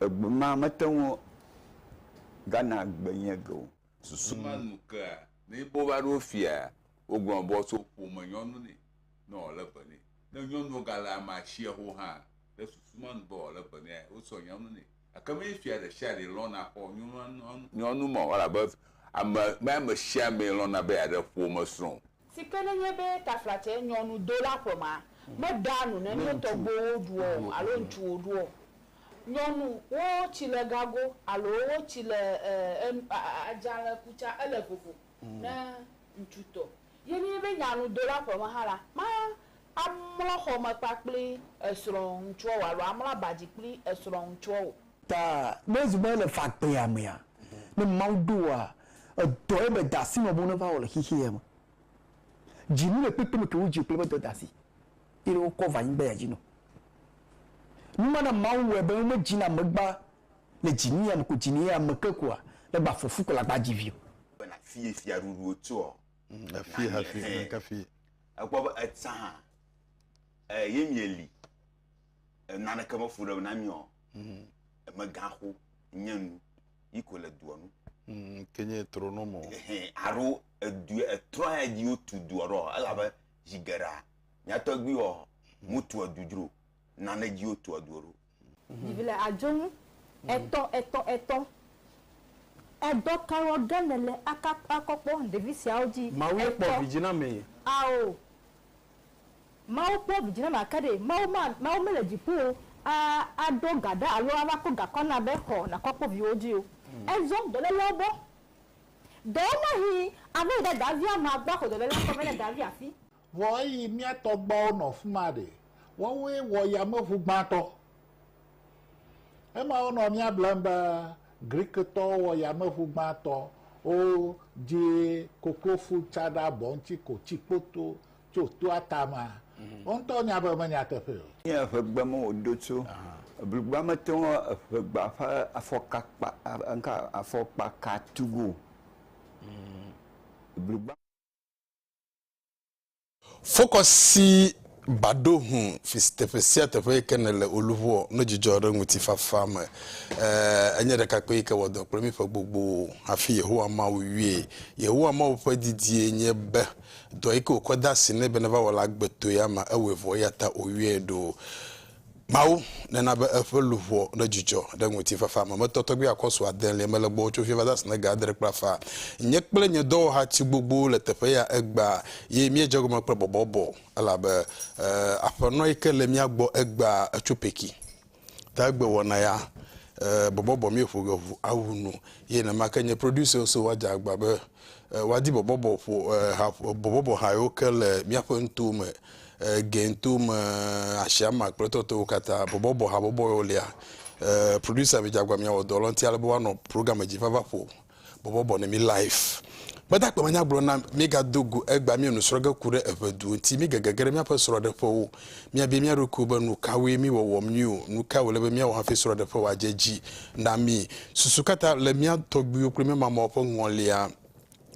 Egbe ma mete ŋu gana gbe nye ge o. Susu ma nu kea ne be wova ɖo fia wogblɔ be woatso ƒome nyɔnu nɛ ne wòle be nɛ. Ne nyɔnuwo gale amea si ho hã ɖe susu ma nu be wòle be nea, wotsɔ nyɔnu nɛ. Gake menye fia ɖe sia ɖe lɔ̃na xɔ nyɔnu ma o elabe ame, menye ame sia amee lɔ̃na be yeaɖe ƒomesrɔ̃ o. Si ke nenye be taflatsɛ nyɔnudola ƒemea meɖea nu ne nye tɔgbuiwo ɖuɔ o alo ŋutsuwo ɖuɔ o, nyɔnu wo tsi le gago alo wo tsi le adzalẽ ku tsa ele vovo ne ŋutsu tɔ. Ye nenye be nyanudola ƒeme hã la, ma amlɔ xɔme kpakpli esrɔ̃ ŋutsuɔ o alo amlɔ abadzi kpli esrɔ̃ ŋutsuɔ o. Ta ne ezu be ele fagbea mea, ne Mawu ɖo wòa, edɔe be dasi nɔ bo neva wɔ le xexeɛ me. Dzi nu le kpekpe me ke wo dzi kple be dɔ dasi yi ɖe wokɔ va anyigba ya dzi nɔ. Nu ma na Mawu wɔe be wome dzi na megba le dzi nu ya me ko dzi ne ya me ke koa, ne gba fɔfu ko la gba dzi vio. Be na fie fia ɖuɖu wo tsoɔ. Mm, efie hafi, neka fie. Ekpɔ be etsã hã, e, ye mie li. naneke me fu ɖe na mí o mm. emegaxo nye nu yi ko le dua nu mm, ke nye trono mo aro edu etrɔ ya dzi wotu dua ɖo elabe zi geɖea nyatɔgbi wɔ mutu edu dzro nane dzi wotu edu ɖo vivi le adzonu etɔ etɔ etɔ edɔ kawo ge nele akɔkpɔ ɖevi siawo dzi mawu kpɔ vidzi na me ao Mawu kpɔ vi dzi na ma ke ɖe Mawu ma Mawu mele dziƒo o a aɖo ga ɖa alo ava kɔ gakɔ na be xɔ nakɔ kpɔ viwo dzi o. Ezɔ dɔlélɔwo gbɔ. Ɖewo mahi ava yi ɖe davia ma gbɔ axɔ dɔlélɔa gbɔ be ne davi afi. Vɔ eyi mía tɔgbuawo nɔ fima ɖe, woawoe wɔ yameʋu gbãtɔ. Ema wonɔ mía blem be Griktɔwo wɔ yameʋu gbãtɔ wodzi koklofu tsaɖa bɔ ŋuti ko tsi kpoto tso toa tamea? Mhm. Wo ŋutɔwo nya be menye nyateƒee o. Nye eŋegbe me woɖo tso. Blugba mete ŋu eŋegba ƒe afɔkakpa ŋka afɔkpaka tu go. Mhm. Blugba. Fokɔ si baɖo hũ fi si teƒe sia teƒe yi ke nèle o luʋoɔ, no dzidzɔ ɖe ŋutifafa me. Ẽ, ènye ɖekakpui yi ke wɔ dɔ kple mí ƒe gbogbo hafi Yehowa Mawu yɔe. Yehowa Mawu ƒe didie nye be dɔ yi ke wòkɔ de asi nɛ be neva wɔ la agbetoe ama ewɔe vɔ, eya ta wòyɔe ɖo. Mawu nena be eƒe luʋɔ nedzudzɔ ɖe ŋutifafa me. Metɔ tɔgbi akɔsu adelia me le gbɔwò tso fiẽ va zã si nege adre kple afã. Nye kple nye dɔwɔha tsi gbogbowo le teƒe ya egbea, ye míedze egɔme kple bɔbɔbɔ, elabe aƒenɔ yi ke le mía gbɔ egbea etso peki. Ta egbe wɔna ya bɔbɔbɔ míeƒo ge ʋu awu nu, ye nenema ke nye producer so wadze agba be E, wadi bɔbɔbɔ ƒo e, ha, bɔbɔbɔ ha yewo ke le míaƒe nuto me, e, Gento me, Asiama kple tɔtɔwo katã. Bɔbɔbɔ habɔbɔ yewo lia. E, producer Vidzagba miawɔ dɔ lɔnti ale be woanɔ programme dzi vava ƒo bɔbɔbɔ ne mi live. Gbadagbe manyagblɔ na mi gado go egba mi nusrɔge ku ɖe eʋedu ŋuti mi gegege ɖe miaƒe srɔɖeƒewo. Míabia mía ɖokuiwo be, Nukawoe mí wɔwɔm nyui o? Nukae wòle be míawɔ hafi srɔ̃ɖeƒe wòadze edzi na mí? Susu ka ta le mía tɔgbuiwo kple mía mamawo ƒe ŋɔlia?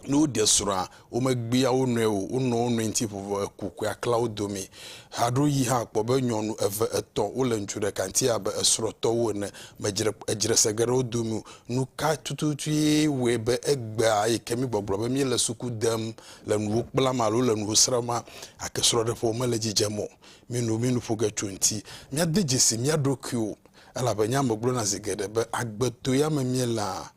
Ne woɖe srɔ̃a, womegbea wo nɔe o, wonɔa wo nɔe ŋuti vovo heku kpea klea wo dome. Haɖewoɣi hã kpɔ be nyɔnu eve, etɔ̃ wole ŋutsu ɖeka ŋuti abe esrɔ̃tɔwo ene. Medzre edzre se ge ɖe wo dome o. Nuka tututue wɔe be egbea yi ke míegbɔgblɔ be míele suku dem le nuwo kplam alo le nuwo srɔ̃m ma, gake srɔ̃ɖeƒewo mele dzidzem o. Mino minoƒo ge tso eŋuti. Míade dzesi mía ɖokuiwo, elabe nye ame gblɔna zi geɖe be, Agbeto ya me míelea.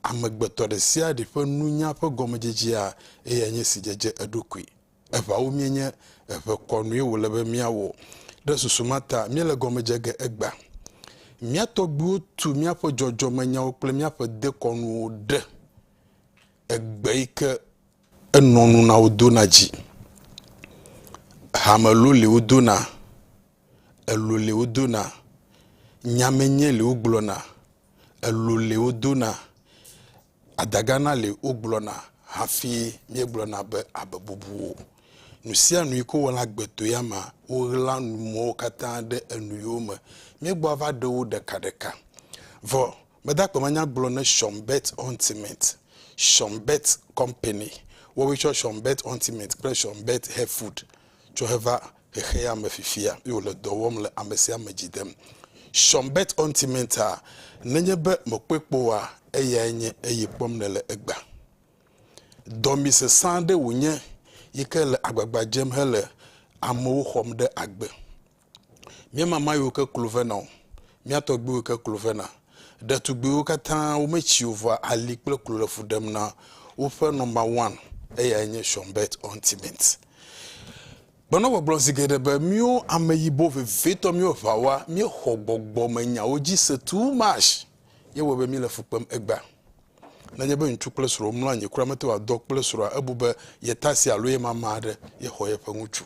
Amegbetɔ ɖe sia ɖe ƒe nunya ƒe gɔmedzedzea eyae nye si dzedze eɖokui. Eʋawo míenye, eʋe kɔnue wòle be míawɔ. Ɖe susu ma ta míele gɔme dze ge egbea? Mía tɔgbuiwo tu míaƒe dzɔdzɔmenyawo kple míaƒe dekɔnuwo ɖe. Egbe yi ke enɔ nu na wo dona dzi. Hame lo li wo dona, elo li wo dona, nya me nye li wo gblɔna, elo li wo dona, adagana li wo gblɔna hafi mía gblɔna be abe bubu o. Nu sia nu yi ke wo wɔna agbeto ya ma wo ɣla nu mɔwo katã ɖe enu yewo me. Mía gbɔ ava ɖe wo ɖeka ɖeka. Vɔ Mede akpe ma nya gblɔ ne Sean Bett Ultimate, Sean Bett Company, woawoe tsɔ Sean Bett Ultimate kple Sean Bett Hair Food tsɔ heva xexea me fifia ye wòle dɔ wɔm le ame sia ame dzi dem. Sean Bett Ultimate-a, nenye be mèkpɔe kpɔ oa, eyae nye eye kpɔm nèle egbea. Dɔmee sesẽ aɖe wònye yi ke le agbagba dzem hele amewo xɔm ɖe agbe. Mía mama yiwo ke klo vena o, mía tɔgbuiwo ke klo vena. Ɖetugbuiwo katã wometsi o vɔa ali kple klo le fu ɖem na woƒe nɔmba wan, eyae nye Sean Bett Ultimate. Gbenɔ gbɔgblɔ zi geɖe be míwo ameyibɔ vevitɔ míwo ʋawa míexɔ gbɔgbɔmenyawo dzi se too much ye wɔe be míle fu kpem egbea. Nenye be ŋutsu kple srɔ̃ womlɔ anyi kura mete ŋu adɔ kple srɔ̃a ebu be yetasi alo yemama aɖe yexɔ yeƒe ŋutsu.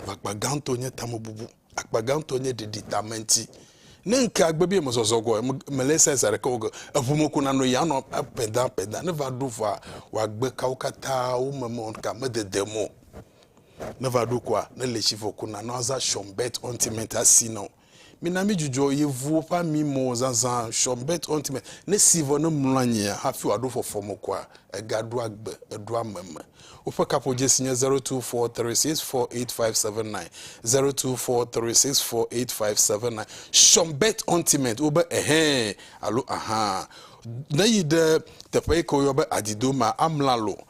Akpa gãtɔ nye tamebubu. Akpa gãtɔ nye ɖiɖi tame ŋuti. Ne ŋkea gbe be mezɔzɔ gɔe, mele ese zi aɖeke gɔe, eŋu me ko nanɔ yi anɔ apɛda apɛda. Ne va ɖo vɔa, wòagbe kawo katã wome mɔ ka medede mo. Ne va ɖo koa, ne le tsi vɔ ko nanɔ aza shɔm bɛt ɔntimɛnti asi nɔ. Mina mídzudzɔ yevuwo ƒe ami mɔ zazã Sean Bet Ɔnti me, Ne si vɔ ne mlɔ anyia hafi wòaɖo fɔfɔ me koa, egaɖoa gbe, eɖoa ame me. Woƒe kaƒodzesi nye zero two four three six four eight five seven nine, zero two four three six four eight five seven nine. Sean Bet Ɔnti me wo be Ɛhɛ̃ alo Ahaa. Neyi ɖe teƒe yi ke woyɔ be Adido mea, amla lo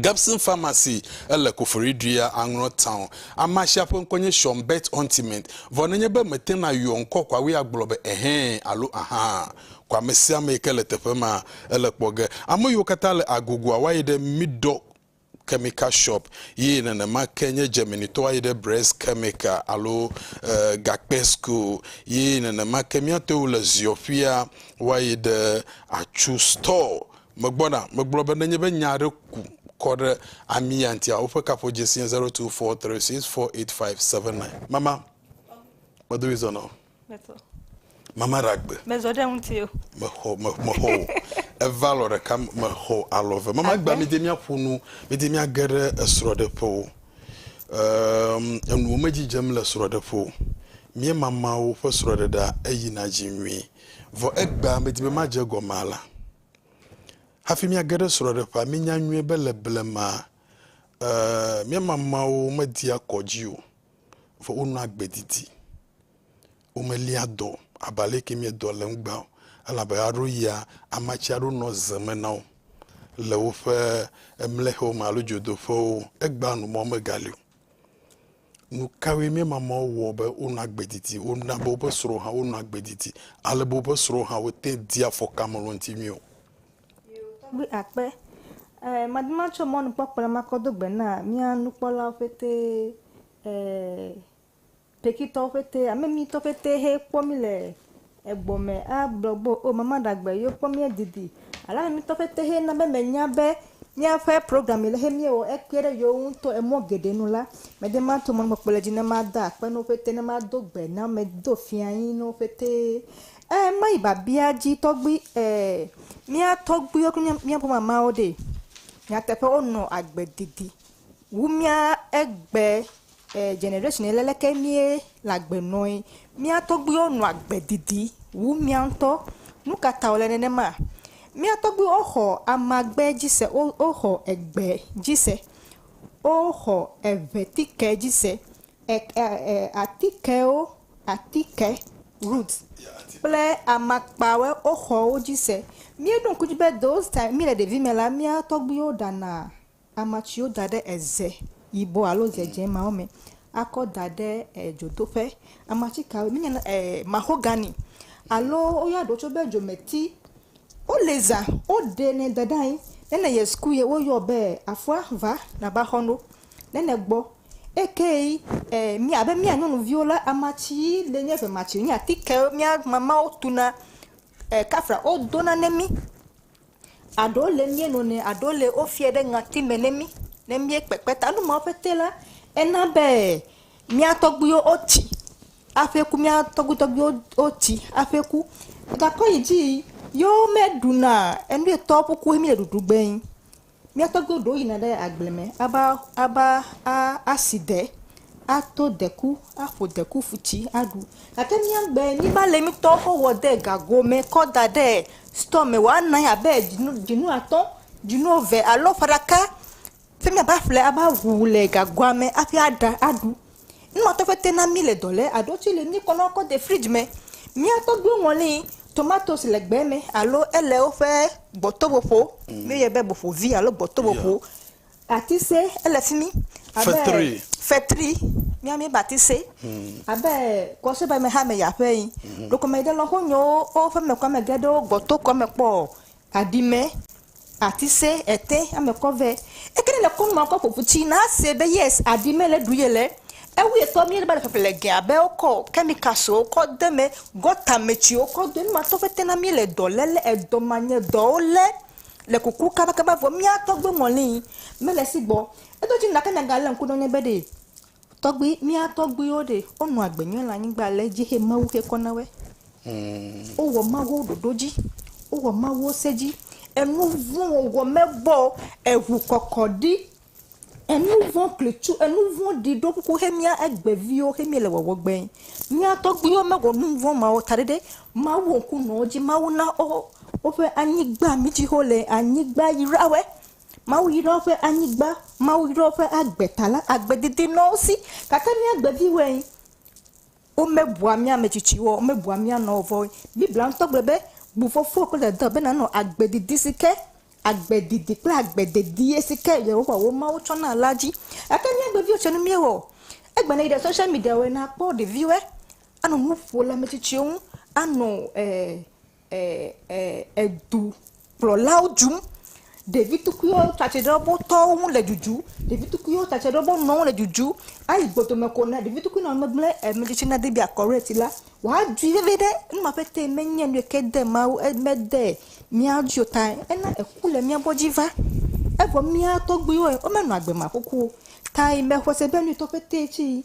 Gibson Pharmacy, ele Koforidua, Anglɔ Town. Amea sia ƒe ŋkɔ nye Shawn Bert Ontiment, vɔ nenye be mète ŋu ayɔ ŋkɔ kɔa wue agblɔ be ɛhɛ̃ alo ahã. Kɔ ame sia ame yi ke le teƒe ma. Ele kpɔ ge, ame yiwo katã le agogoa woayi ɖe Middock Chemical Shop, ye nenema ke nye Germanitɔwo ayi ɖe Bress Chemical alo Gakpe School, ye nenema ke míatewo le Ziɔƒia woayi ɖe Atsu Store Megbɔna, megblɔ be nenye be nya aɖe ku kɔ ɖe ami ya ŋutia, woƒe kaƒodzesie 0243648579. Mama, medo ɣi zɔ na wò. Mezɔ. Mama ɖe agbe. Mezɔ ɖe ŋutiwò. Mexɔ, me, mexɔ wò. Eva alɔ ɖeka, mexɔ alɔ ve. Mama gba mi de mia ƒo nu, mi de mia ge ɖe esrɔ ɖe ƒe o. Ehm, enuwo me dzidzem le srɔ ɖe ƒe o. Mie mamawo ƒe srɔ ɖe ɖa, eyi na dzi nyuie. Vɔ egbea medi be madze egɔme alea. Hafi míage ɖe srɔ̃ɖeƒea, mínya nyuie be le blema e, mía mamãwo media kɔ dzi o, vɔ wonɔa agbe didi. Womelia dɔ abe aleke míedɔ le eŋugbea o, elabe aɖoɣia amatsi aɖo nɔ ze me na wo le woƒe mlexewo me alo dzodoƒewo. Egbea nu mɔ megali o. Nu kawoe mía mamãwo wɔ be wonɔ agbe didi? Wona be woƒe srɔ̃wo hã wonɔ agbe didi ale be woƒe srɔ̃wo hã wote ŋu dia afɔkamelɔ̃tinuwo. Tɔgbi akpe ɛɛ madi matsɔ mɔnukpɔkpɔ la makɔ do gbe na mía nukpɔlawo ƒete ɛɛ Pekitɔwo ƒete, ame mi tɔ ƒete he kpɔ mi le Egbɔ me a gblɔ be o mama ɖa gbe yo kpɔ mía didi. Alane mi tɔ fete he na be me nya be mía ƒe program yi le he mía wɔ ekpe ɖe yo ŋu tɔ emɔ geɖe nu la, me de ma to mɔnukpɔkpɔ le dzi ne ma da akpe no fete ne ma do gbe na me do fia anyi no fete. E ma yi babia dzi tɔgbui e mía tɔgbui yo kple mía ƒome ama wo ɖe. Nyateƒe wo nɔ agbe didi wu mía egbe. E generation ye leke mie le agbe nɔe. Mía tɔgbuiwo nɔ agbe didi wu mía ŋutɔ. Nu ka ta wòle nenema? Mía tɔgbuiwo xɔ amagbe dzi se, wo woxɔ egbe dzi se, woxɔ eŋetike dzi se, e e e atikewo, atike, root, kple amakpawo woxɔ wo dzi se. Míeɖo ŋku edzi be those time míele ɖevi me la mía tɔgbuiwo ɖana Ama tsiwo da ɖe eze yibɔ alo ze dzẽ mawo me akɔ da ɖe dzodoƒe. Ama tsi kawoe? Míenya na ɛɛ mahogani alo woyɔna ɖewo tsɛ be dzometi. Wole zã. Woɖenɛ da ɖe anyi. Nene yɛ suku yɛ woyɔ be afɔa va nava xɔ no. Nene gbɔ. Ekeyi ɛɛ mí abe mía nyɔnuviwo la, ama tsi yí le nye eve ma tsi wonye atike mía mamawo tuna ɛɛ kafla wodona na mí. Aɖewo le míenonɛ, aɖewo le wofiɛ ɖe ŋati me ne mí ne míekpekpe ta. Nu mawo ƒete la, ena be mía tɔgbuiwo wotsi aƒe ku, mía tɔgbui tɔgbuiwo wotsi aƒe ku. Gakpɔ yi dzi yi ye womeɖu na enu ye tɔwo ƒe kuwo míele ɖuɖu gbee. Mía tɔgbuiwo ɖewo yina ɖe agble me ava ava a asi de, ato deku, aƒo deku ƒu tsi aɖu. Gake míagbea míeva le mí tɔwo ƒe wɔ de gago me kɔ da ɖe Sitɔ me wɔ anɔ anyi abe dzinu dzinu atɔ̃, dzinu eve alo ƒe ɖeka. Fi mi ava ƒle ava ŋu le gagoa me hafi aɖa aɖu. Nu ma tɔgbi te na mí le dɔ le eɖewo tse le míkɔ na wo kɔ de fridzi me. Mía tɔgbiwo ŋlɔnɛ tomatosi le gbe me alo ele woƒe gbɔtoƒoƒo. Míeyɔe be boƒovi alo gbɔtoƒoƒo. Batise ele fi mi. Fetri. Fetri. Mía mi batise. Hmm. Abe kɔsebe me ha me ya ƒe yi. Hmm. Ɖokɔme ɖe lɔ ho nyo o ƒe me kɔ me ge ɖe o gbɔ to kɔ me kpɔ o. Adime. Atise ete ame kɔ ve. Eke ne le kɔ nɔ kɔ ƒoƒu tsi na se be yes adime le du ye le. Ewu ye tɔ mi ba le ƒeƒe le gea be o kɔ kemika so o kɔ de me gɔta me tsi o kɔ de ma tɔ fete na mi le dɔ le le edɔ ma nye dɔ o le. le kuku kabakaba vɔ mía tɔgbe mɔli mele si gbɔ. Eɖo dzi gake mìagalé ŋku ɖe ŋu be ɖe tɔgbi mía tɔgbiwo ɖe wonɔ agbe nyuie le anyigba le edzi xe Mawu xe kɔ na woe. Wowɔ Mawu ɖoɖo dzi. Wowɔ Mawu se dzi. Enu vɔ̃ wɔwɔ mebɔ eŋukɔkɔɖi Enuvɔ̃ klitsu, enuvɔ̃ɖi ɖo kuku xe mía egbe viwo xe míele wɔwɔ gbɛ. Mía tɔgbuiwo mewɔ nuvɔ̃ mawo ta ɖe ɖe Mawu ŋku nɔ wo dzi. Mawu na wo woƒe anyigba mi dzi xe wole. Anyigba yra wɔe. Mawu yra woƒe anyigba. Mawu yra woƒe agbe ta la, agbe didi nɔ wo si. Gake mía egbe viwoe. Womebua mía ame tsitsiwo o, womebua mía nɔwo vɔ o. Biblia ŋutɔ gblɔe be, Bu fofowò kple dadawo be nànɔ agbe didi si ke agbe didi kple agbe dedie si ke Yehowa wò Mawu tsɔ na la dzi. Gake mía agbeviwo tse nu míewɔ o. Egbe ne yi ɖe social mediawo ene akpɔ ɖeviwoe anɔ nu ƒo le ame tsitsiwo ŋu, anɔ e. edukplɔlawo dzum. Ɖevi tukuiwo tsa tsi tre ɖe wo tɔwo ŋu le dzudzum. Ɖevi tukuiwo tsa tsi tre ɖe wo nɔewo ŋu le dzudzum. Eyi gbɔdome ko ne ɖevi tukui nɔ megble ame tsitsi nade be akɔrɛti la, woadzui veviɖe. Nu ma ƒetee menye nu yi ke de Mawu e mede mía dzi o tae ena eku le mía gbɔ dzi va. Evɔ mía tɔgbuiwoe womenɔ agbe makuku o tae mexɔse be nu yi tɔ ƒetee tsi yi.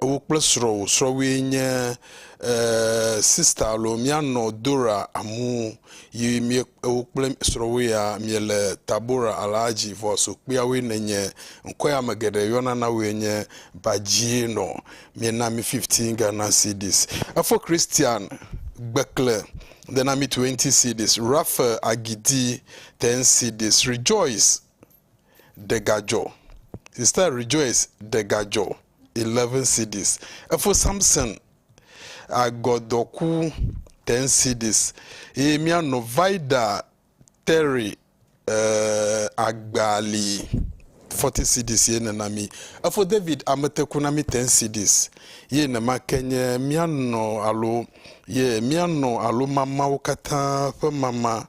wò kple srɔ̃wò. Srɔ̃wòe nye sister alo míanɔ Dora Amu yi mie wò kple srɔ̃wò ya miele Tabora Alhaji vɔ sokpuiawoe nènye. Ŋkɔe ame geɖe yɔna na wòe nye Bajienɔ. Míena mi fifteen Ghana cedis. Efo Christian Gbekle dena mi twenty cedis. Raphael Agidi ten cedis. Rejoice. ɖe gadzɔ he started rejoice ɖe gadzɔ eleven cds efo samson agɔdɔku ten cds eye mía nɔ vida terry eh, agbali forty cds ye nena mi efo david ameteku na mi ten cds ye nema ke nye mía nɔ alo ye mía nɔ alo mamawo katã ƒe mama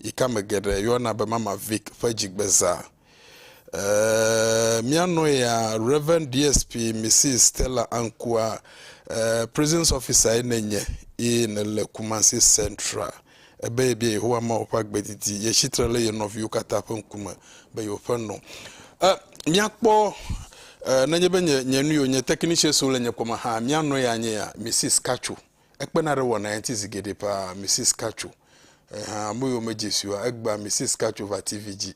yi ke ame geɖe yɔna be Mama Vic ƒe dzigbeza. Ee, mía nɔya, Rev. DSP Mrs. Stella Ankua, ee, prisons officer nènye eye nèle Kumasi Central. Ebe yebia Yehowa Mawu ƒe agbe didi. Yetsi tre ɖe ye nɔviwo katã ƒe ŋkume be yewoƒe nɔ. E, míakpɔ e, nenye be nye, nye nu yio, nye technicians le nye kpɔme hã, mía nɔya nye ya, Mrs. Katso. Ekpena ɖe wɔnae ŋuti zi geɖe paa. Mrs. Cacho, Ẽ hã, ame yiwo medze si oa? Egbea Mrs. Cacho va TV dzi.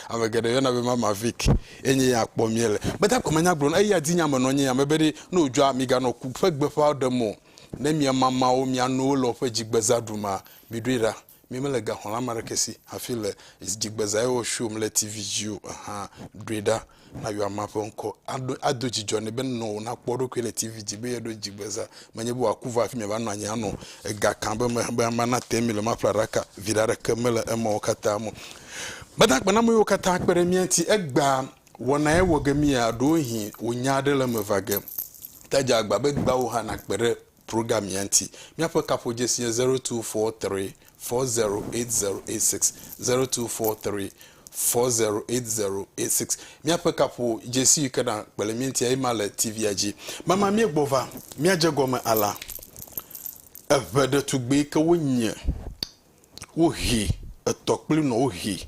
Ame geɖe yɔna be Mama Vic. Ye nye ya kpɔm míele. Gbedagbe menya gblɔ na eya dzi nya me nɔ nye ya me be ɖe ne wòdzɔa, miganɔ ku ƒe gbeƒã ɖem o. Ne mia mamawo, mia nowo le woƒe dzigbeza ɖum a, miɖoe ɖa. Mi me le gaxɔla ame aɖeke si hafi le dzigbe zã eye wòshow m le TV dzi o hã, ɖoe ɖa na yɔamea ƒe ŋkɔ. Aɖo, ado dzidzɔ nɛ be nɔ wònakpɔ eɖokui le TV dzi be yeɖo dzigbe zã. Menye be wòaku vɔ hafi miava nɔ anyi anɔ ega kam be me be amea nate mi le maƒle aɖaka. Viɖe aɖeke mele emawo katã me o. Gbadagbanɔame yiwo katã kpe ɖe mía ŋuti egbea wɔnae wɔ ge mía, ɖewohĩ wò nya aɖe le eme va ge. Ke edze agba be egbea wò hã nàkpe ɖe program mía ŋuti. Míaƒe kaƒodzesi nye zero two four three four zero eight zero eight six, zero two four three four zero eight zero eight six. Míaƒe kaƒodzesi yi ke na kpele mía ŋuti ema le TV-a dzi. Mama míegbɔ va, míadze gɔme alea. Eŋe ɖetugbi yi ke wonye, wohi etɔ kple nɔ wohi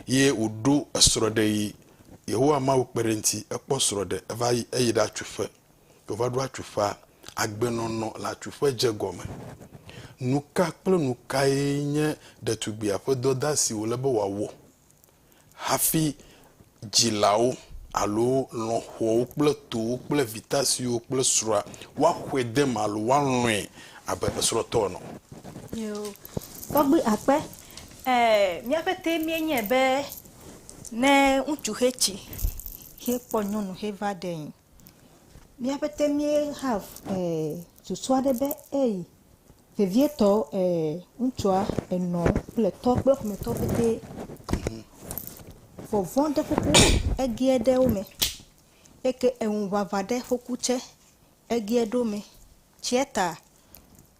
ye wòɖo esrɔ̃ɖeɣi. Yehowa Mawu kpe ɖe eŋuti, ekpɔ srɔ̃ɖe, eva yi eyi ɖatso ƒe. Yeova ɖo atsuƒea, agbenɔnɔ le atsuƒe dze gɔme. Nuka kple nukae nye ɖetugbia ƒe dɔdea si wòle be wòawɔ hafi dzilawo alo lɔ̃xoawo kple towo kple vitasiwo kple srɔ̃a woaxɔe de eme alo woalɔ̃e abe esrɔ̃tɔ ene o? Nyo, tɔgbui akpe, e, míaƒe tee míenye be ne ŋutsu xe tsi hekpɔ nyɔnu heva ɖee. Míapɛtɛ mí hav e susu aɖe be eyi vevietɔ e ŋutsua enɔ kple tɔ kple ƒometɔ pɛtɛ vɔvɔ̃ ɖe ƒoƒu egie ɖe wo me eke eŋuŋaŋa ɖe ƒoku tse egie ɖo me tsia ta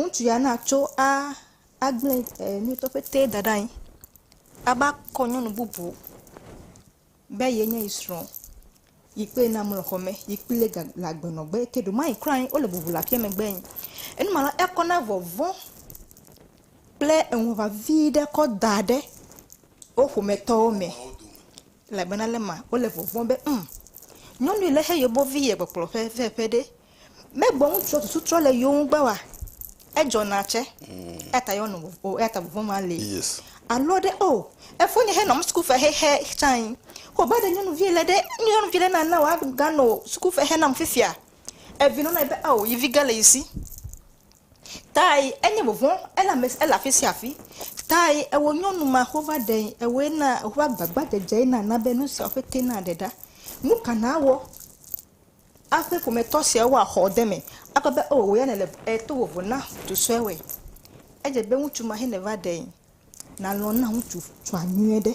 Ŋutsu ya na tso a agble e nutɔ ƒete da ɖe anyi ava kɔ nyɔnu bubu be ye nye ye srɔ̃ yi kple ye na mlɔ xɔ me yi kple ye ga le agbe nɔ gbe ke ɖomɛ kura wo le bubu le aƒea megbe ye. Enuma la ekɔ na vɔvɔ̃ kple eŋu vevi ɖe kɔ da ɖe wo ƒometɔwo me. Elabena le ma wole vɔvɔ̃m be, Ŋ! Nyɔnui le he yobɔ vi ye kpɔkplɔ ƒe ve ƒe ɖe? Me gbɔ ŋutsua susu trɔ le yo ŋu gbe wa? Edzɔ na tsɛ. Eya ta yɔ nɔ o, eya ta vɔvɔ̃ ma le. Alɔ ɖe o, efo nye he nɔ suku fe he he tsãe. Ko ba ɖe nyɔnuvi le ɖe, nyɔnuvi le na na wa ga nɔ suku fe he nam fifia. Evi nɔ na yi be, Ao, yi vi ge le yi si. Tae enye vɔvɔ̃, ele ame, ele afi sia afi. Tae ewɔ nyɔnu ma wova ɖee. Ewɔe na woƒe agbagbadzedze nana be nu siawo ƒete naɖe ɖa. Nu ka nàwɔ aƒe ƒometɔ siawo woaxɔ de eme akpɔ be o wò ya nèle e to vovo na ŋutsu sue wɔe? Edze be ŋutsu ma hɛneva ɖee. Nàlɔ̃ na ŋutsu tsua nyuie ɖe.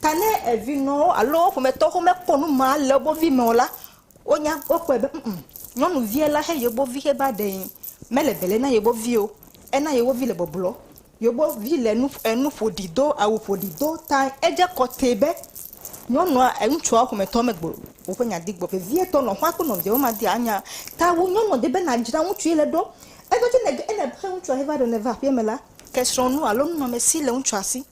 Ta ne evinɔwo alo wo ƒometɔwo mekpɔ nu ma le wobo vi me o la, wonya, wokpɔe be ŋ-ŋ, nyɔnuvia la he yewobo vi heva ɖee. Mele bele na yewobo vi o. Ena yewobo vi le bɔblɔ. Yewobo vi le nu, enu ƒoɖi do, awu ƒoɖi do ta edze kɔtɛ be nyɔnua, ŋutsua ƒometɔ megblɔ woƒe nya di gbɔ. Vevietɔ nɔƒea kple nɔvia woma dia nya ta wu nyɔnua di be nadzra ŋutsu ye le ɖo. Egbedzi ne, ne ehe ŋutsua heva ɖe neva aƒeme la, ke srɔ̃nu alo nunɔamesi le ŋutsua si.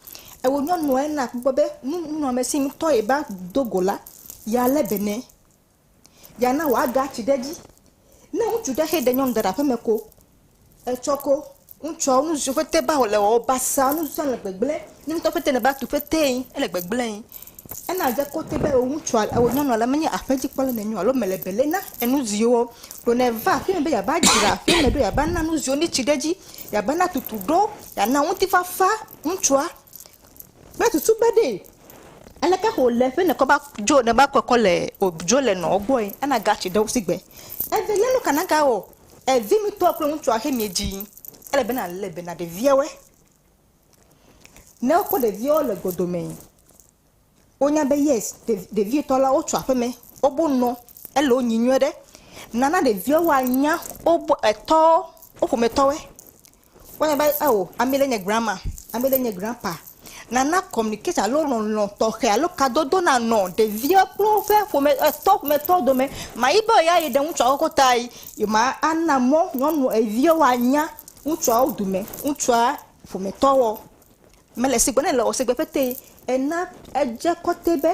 Ewɔ nyɔnua ena kpɔkpɔ be nu nunɔamesi ŋutɔ ye va do go la, yealé be nɛ. Yeana wòage atsi ɖe edzi. Ne ŋutsu ɖe xe ɖe nyɔnu ɖe ɖe aƒeme ko, etsɔ ko ŋutsuawo nu siwo ƒete va wòle wɔwɔ basaa, nu sia nu le gbegblẽ. Ne ŋutɔ ƒete nèva tu ƒetee, ele gbegblẽe. Ena dze kote be eo ŋutsua, eo nyɔnua ɖe menye aƒedzikpɔla nɛ nyo alo mele bele na enuziwo o. Ɖo ne eva aƒeme be yeava dzra aƒeme ɖo yeava na nuziwo ne tsi ɖe edzi, yeava na tutu ɖo, yeana ŋutifafa ŋutsua. Kple susu be ɖee aleke xɔ wòle be nekɔ va dzo ne va kɔkɔ le dzo le nɔwo gbɔe ana gatsi ɖe wo si gbe. Evelia nu ka nagawɔ? Evinutɔ kple ŋutsua xe miedziyi. Ele be nalé be na ɖeviawoe. Ne wokpɔ ɖeviwo le go dome, wonya be yes ɖevi tɔ la wotso aƒeme, wobo nɔ ele wo nyi nyuie ɖe. Nana ɖeviwo wa nya wobo etɔwo, wo ƒome tɔwoe. Wo nya be eo ame ɖe nye grandma, ame ɖe nye grandpa. Nana communication alo lɔlɔ̃ tɔxɛ alo kadodo na nɔ ɖeviwo kple woƒe ƒome etɔ ƒome tɔ dome. Mayi be yeayi ɖe ŋutsua koko ta yi ma ana mɔ nyɔnu eviwo wa nya Ŋutsuawo dome ŋutsua ƒometɔwɔ mele sigbe ne le o sigbe pɛtɛ ena edze kɔte be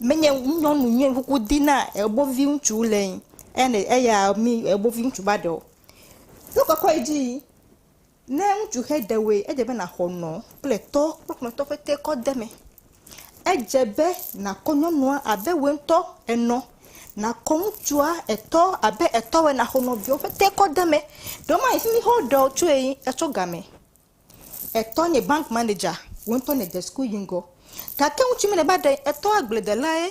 menye nyɔnu nye nukuku di na ebo viŋutsu le ŋ ene eya mi ebo viŋutsu va ɖe o. Nu kɔkɔ yi dzi yi ne ŋutsu xe ɖewoe edze be naxɔ nɔ kple tɔ kple ƒometɔ pɛtɛ kɔdeme. Edze be nàkɔ nyɔnua abe wòe ŋutɔ ènɔ, nàkɔ ŋutsua etɔ abe etɔwòe nàxɔ nɔviawo ƒete kɔ de eme. Ɖewo ma yi fi mi xe woɖe wo tsoe yi etsɔ game. Etɔ nye bank manager, wò ŋutɔ nède suku yi ŋgɔ. Gake ŋutsu mi nèva ɖe etɔa agbledelae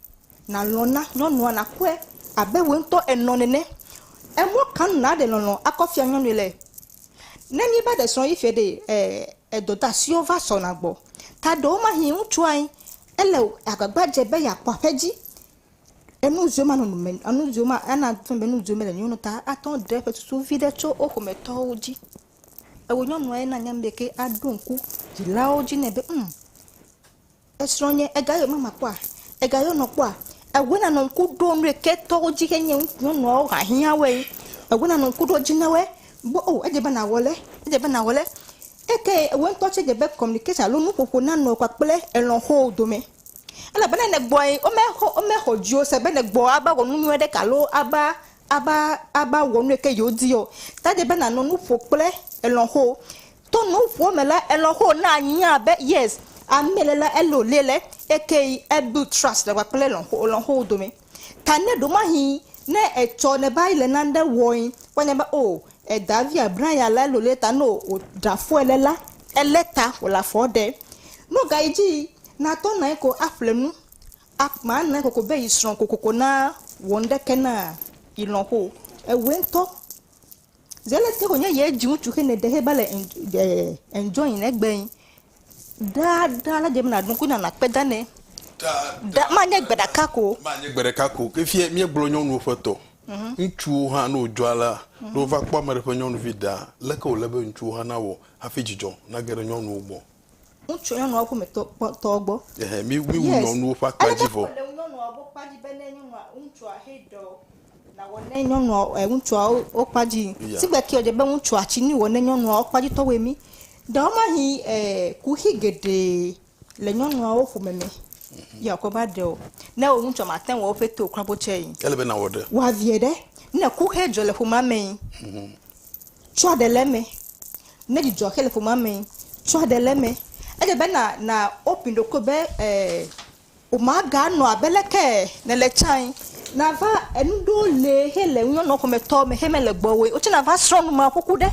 Nàlɔ̃ na nyɔnua nàkpɔe abe wòe ŋutɔ ènɔ nene. Emɔ ka nu nàɖe lɔlɔ̃ akɔ fia nyɔnui le? Ne míeva ɖe srɔ̃ yi fiɛ ɖee, e, e dɔdeasiwo va sɔna gbɔ. Taɖewomahĩ ŋutsua yi ele agbagba dze be yeakpɔ aƒe dzi. Enu ziwo manɔ nu me, enu ziwo ma, ana fia be enu ziwo mele nyo nu ta ate ŋu aɖe eƒe susu viɖe tso wo ƒometɔwo dzi. Ewò nyɔnua ye na nya be ke aɖo ŋku dzilawo dzi nɛ be, Hm! Esrɔ̃ nye ega ye mama kpɔa? Ega ye wonɔ kpɔa? Ewe nanɔ ŋku ɖo nuye ke tɔwo dzi xe nye nyɔnuawo ha hiã woe. Ewe nanɔ ŋku ɖo dzi na woe be o edze be nawɔ le, edze be nawɔ le. Eke ye ewe ŋutɔ tse dze be communication alo nuƒoƒo nanɔ kpakple elɔxowo dome. Elabena ne gbɔe wome xɔ wome xɔ dziwò se be ne gbɔ ava wɔ nu nyuie ɖeka alo ava ava ava wɔ nuye ke yewo di yɔ. Ta edze be nanɔ nuƒo kple elɔxowo. To nuŋuo me la elɔ ho na nya be yes ame le la elo le le eke yi e build trust le kpakple lɔnxo lɔnxo wo dome ta ne ɖomahi ne etsɔ ne ba yi le nane wɔe wa nya be oh eda vi a Brian la elo le ta no o dra fɔe le la ele ta o la fɔ ɖe no ga yi dzi na tɔ na yi ko a ƒle nu a kpã na yi koko be yi srɔ kokoko na wɔ ŋɖe ke na yi lɔnxo ewɛ ŋtɔ. Ze lé te wònye yɛ ji ŋutsu xe ne ɖe heba le en de enjoy ne gbe ŋ. Ɖaa ɖaa la deme na nuku na na kpe da nɛ. Ɖa ma nye gbe ɖaka ko. Ma nye gbe ɖeka ko. Ke fie mía gblɔ nyɔnuwo ƒe tɔ. Ŋutsuwo hã ne wòdzɔ alea, ne wova kpɔ ame ɖe ƒe nyɔnuvi ɖaa, leke wòle be ŋutsuwo hã nawɔ hafi dzidzɔ nage ɖe nyɔnuwo gbɔ? Ŋutsu nyɔnu aɖe ƒometɔ tɔ gbɔ. Ehe, mi wi wu nyɔnuwo ƒe akpa dzi vɔ. Ele nyɔnua gbɔ kpa dzi be ne nyɔnua ŋutsua he dɔ nawɔ ne nyɔnua e ŋutsua wo kpa dzi. Si gbe ke dze be ŋutsua tsi ni wɔ ne nyɔnua wo kpa dzi tɔ wɔ mi. Ɖewo ma hi e kuxi geɖe le nyɔnua wo ƒome me. Ye akɔ va ɖe o. Ne wo ŋutsua ma te wɔ woƒe to kura bo tse yi. Ele be na wɔ ɖe. Wa vie ɖe. Ne kuxe dzɔ le ƒomea me yi. Tsɔa ɖe le eme. Ne dzidzɔ xe le ƒomea me, tsɔa ɖe le eme. Ele be na na open ɖokuiwò be e wòmaganɔ abe leke nèle tsãe. Nàva enu ɖewo li hele nunyɔnɔ ƒometɔ me xe mele gbɔwò o. Wò tsɛ nàva srɔ̃ nu ma ƒoƒu ɖe.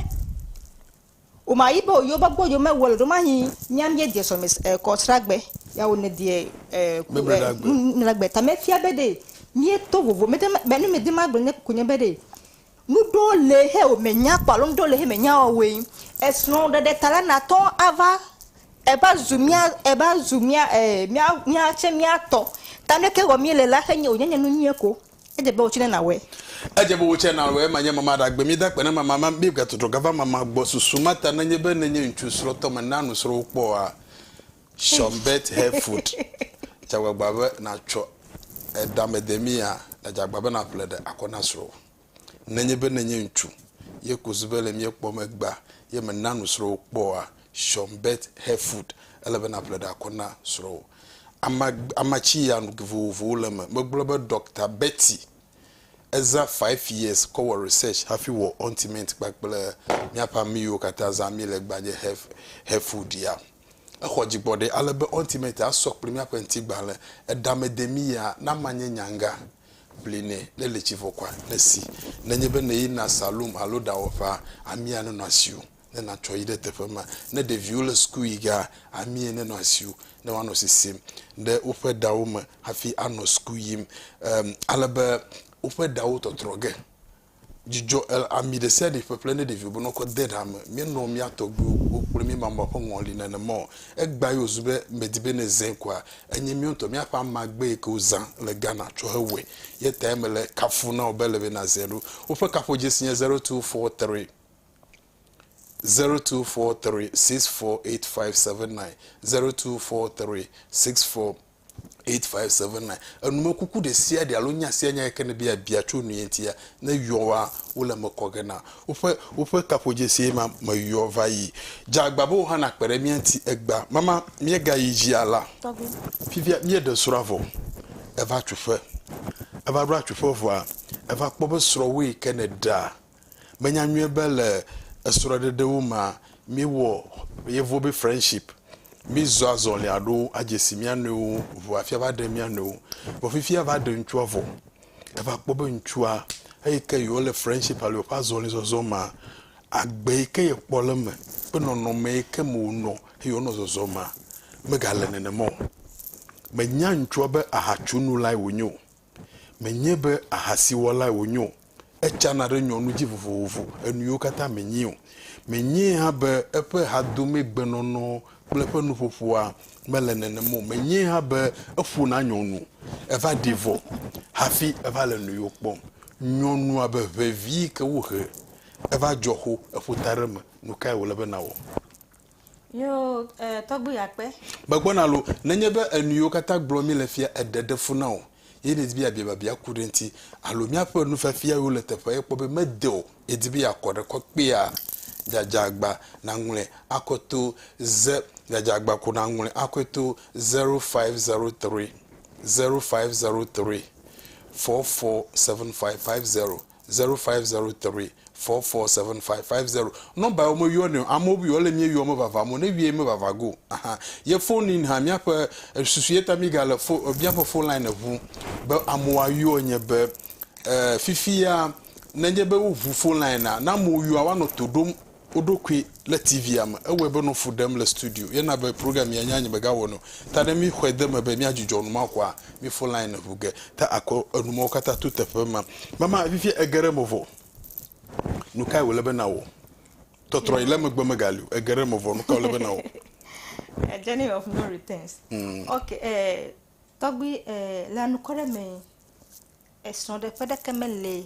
Wòmayi be wòyi wobe gbɔ yi womewɔ le ɖo mahi mía míedie sɔhɛme e kɔ sragbe ya wò nèdie e ku e Mebledagbe. mebledagbe ta mefia be ɖe míeto vovo mede be nu mede magblɔ nye ko nye be ɖe Nuɖo le xe o me nya kpɔ alo nuɖo le xe me nya wɔwɔe. Esrɔ̃ ɖeɖe ta la na tɔ ava eva zu mía eva zu mía e mía mía tse mía tɔ. Ta nu yike wɔ mí le la xe nye wonye nye nu nyuie ko. Edze be wò tse na wɔ. Edze be wò tse na wɔe. Ma nye mama ɖa gbe mí da kpe ne mama ma mí ga trɔtrɔ ga va mama gbɔ. Susu ma ta ne nye be ne nye ŋtsu srɔ̃ tɔ me na nusrɔ̃ wo kpɔ oa. Sean Bet Hereford dze agbagba be nàtsɔ eɖamedemia le dze agbagba be nàƒle ɖe akɔ na srɔ̃wò. Nenye be nènye ŋutsu ye ku zu be le mía kpɔm egbea ye mèna nu srɔ̃wò kpɔa, Sean Bet Hereford, ele be nàƒle ɖe akɔ na srɔ̃wò. Ama, ama tsi ya nu vovovowo le eme. Megblɔ be Ɖɔkta Betty ezã five years kɔ wɔ research hafi wɔ ointment kpakple míaƒe ami yiwo katã zã míle egbea nye Hereford ya. Exɔ dzigbɔɖi ale be Ultimate asɔ kpli míaƒe ŋutigbalẽ. Eɖamedemia, na manye nyanga, ʋli nɛ, ne li tsi vɔkɔa, ne si. Nenye be nèyina salon alo ɖawɔƒea, amia nenɔ asiwò, ne nàtsɔ yi ɖe teƒe ma. Ne ɖeviwo le suku yi gea, amie nenɔ asiwò, ne woanɔ sisim ɖe woƒe ɖawo me hafi anɔ suku yim, ale be woƒe ɖawo tɔtrɔ ge. Dzidzɔ el ami ɖe sia ɖe ƒeƒle ne ɖeviwo be ne wokɔ de ɖa me. Míenɔ mía tɔgbuiwo gbɔ kple mí mama ƒe ŋɔli nenema o. Egbea ye wòzu be medi be ne zẽ koa, enye míawo ŋutɔ míaƒe amagbe yi ke wozã le Ghana tsɔ hewɔe. Ye tae mele kafu na wò be ele be nàzẽ ɖo. Woƒe kaƒodzesi nye zero two four three, zero two four three six four eight five seven nine, zero two four three six four eight five seven nine enumekuku ɖe sia ɖe alo nya sia nya yi ke nèbe yeabia tso nu ye ŋutia ne yɔ wa wole eme kɔ ge na woƒe woƒe kaƒodzesie ma meyɔ va yi. Dze agba be wò hã nàkpe ɖe mía ŋuti egbea. Mama míegayi dzia la, fifia míeɖe srɔ̃a vɔ eva tso ƒe. Eva ɖo atso ƒe vɔa eva kpɔ be srɔ̃wò yi ke nèɖea Menya nyuie be le esrɔɖeɖewo mea, míewɔ yevuwo be friendship, mízɔ azɔli aɖo adze si mía nɔewo ŋu afia va ɖe mía nɔewo. Vɔ fifia va ɖe ŋutsua vɔ, eva kpɔ be ŋutsua eyi ke yewo le friendship alo yewoƒe azɔli zɔzɔ mea, agbe yi ke yekpɔ le eme kple nɔnɔme yi ke me wonɔ eye wonɔ zɔzɔ mea, megale nenema o. Menya ŋutsua be ahatsu nu lae wonye o. Menye be ahasiwɔlae wònye o, etsana ɖe nyɔnu dzi vovovo, enuyiwo katã menyee o. Menyee hã be eƒe hadomegbenɔnɔ kple eƒe nuƒoƒoa mele nenem o. Menyee hã be eƒona nyɔnu, eva ɖi vɔ hafi eva le nuyiwo kpɔm. Nyɔnu abe ʋevi yi ke wohe eva dzɔ xo, eƒo ta ɖe eme. Nukae wòle be nawɔ? Nyɔo e tɔgbi ya kpe. Megbɔ na lo, nenye be enuyiwo katã gblɔ mi le fia eɖe ɖe fu na o ye nedi be yabia biabia ku ɖe ŋti alo miaƒe nufiafia yiwo le teƒea ye kpɔ be mede o yedi be yakɔ ɖe kɔ kpea dzadzagba naŋlɔe akɔ to ze dzadzagba ko naŋlɔe akɔe to 0503 0503 447550. Zero five zero three four four seven five five zero nɔmba yewo meyɔ nɛ o amewo buyɔ le mie yɔ mevava mo ne vie mevava go ahan ye phone in ha miaƒe susu ye ta mi ga le fo miaƒe phone line eʋu be amewo ayɔ nye be e fifia ne nye be wo ʋu phone line na na amewo yɔa wa nɔ to ɖom Woɖo koe le TV-a me. Ewɔe be nɔ fu ɖem le studio ye na be program ya nya nye megawɔnɛ o. Ta ne míxɔe de eme be míadzudzɔ numaxɔa, mífɔ line ŋu ge. Ta akɔ enu mawo katã to teƒe ma. Mama, fifia ege ɖe eme vɔ. Nukae wòle be nàwɔ? Tɔtrɔ yi le megbe megali o. Ege ɖe eme vɔ. Nukae wòle be nàwɔ? A journey of no returns. Ok, eh, tɔgbui, eh, le anukɔ ɖe me, esrɔ̃ɖeƒe ɖeke mele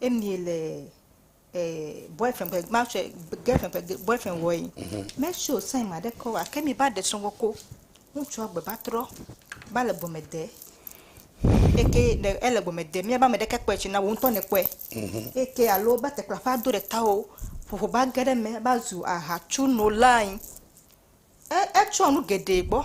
emie le eh, boyfriend ƒe ma sɔ girlfriend ƒe boyfriend wɔe mhm. mesɔ sɛn ma ɖe kɔ wa ke mi ba ɖe sɔgbɔ ko ŋutsua gbe ba trɔ ba le gɔme de eke le ele gɔme de miaba me ɖeke kpɔe tsi na wo ŋutɔ ne kpɔe mhm. eke alo ba tekpla ƒe ado ɖe ta o ƒoƒo ba ge ɖe me ba zu aha tsu no lain e etsɔ nu geɖe gbɔ.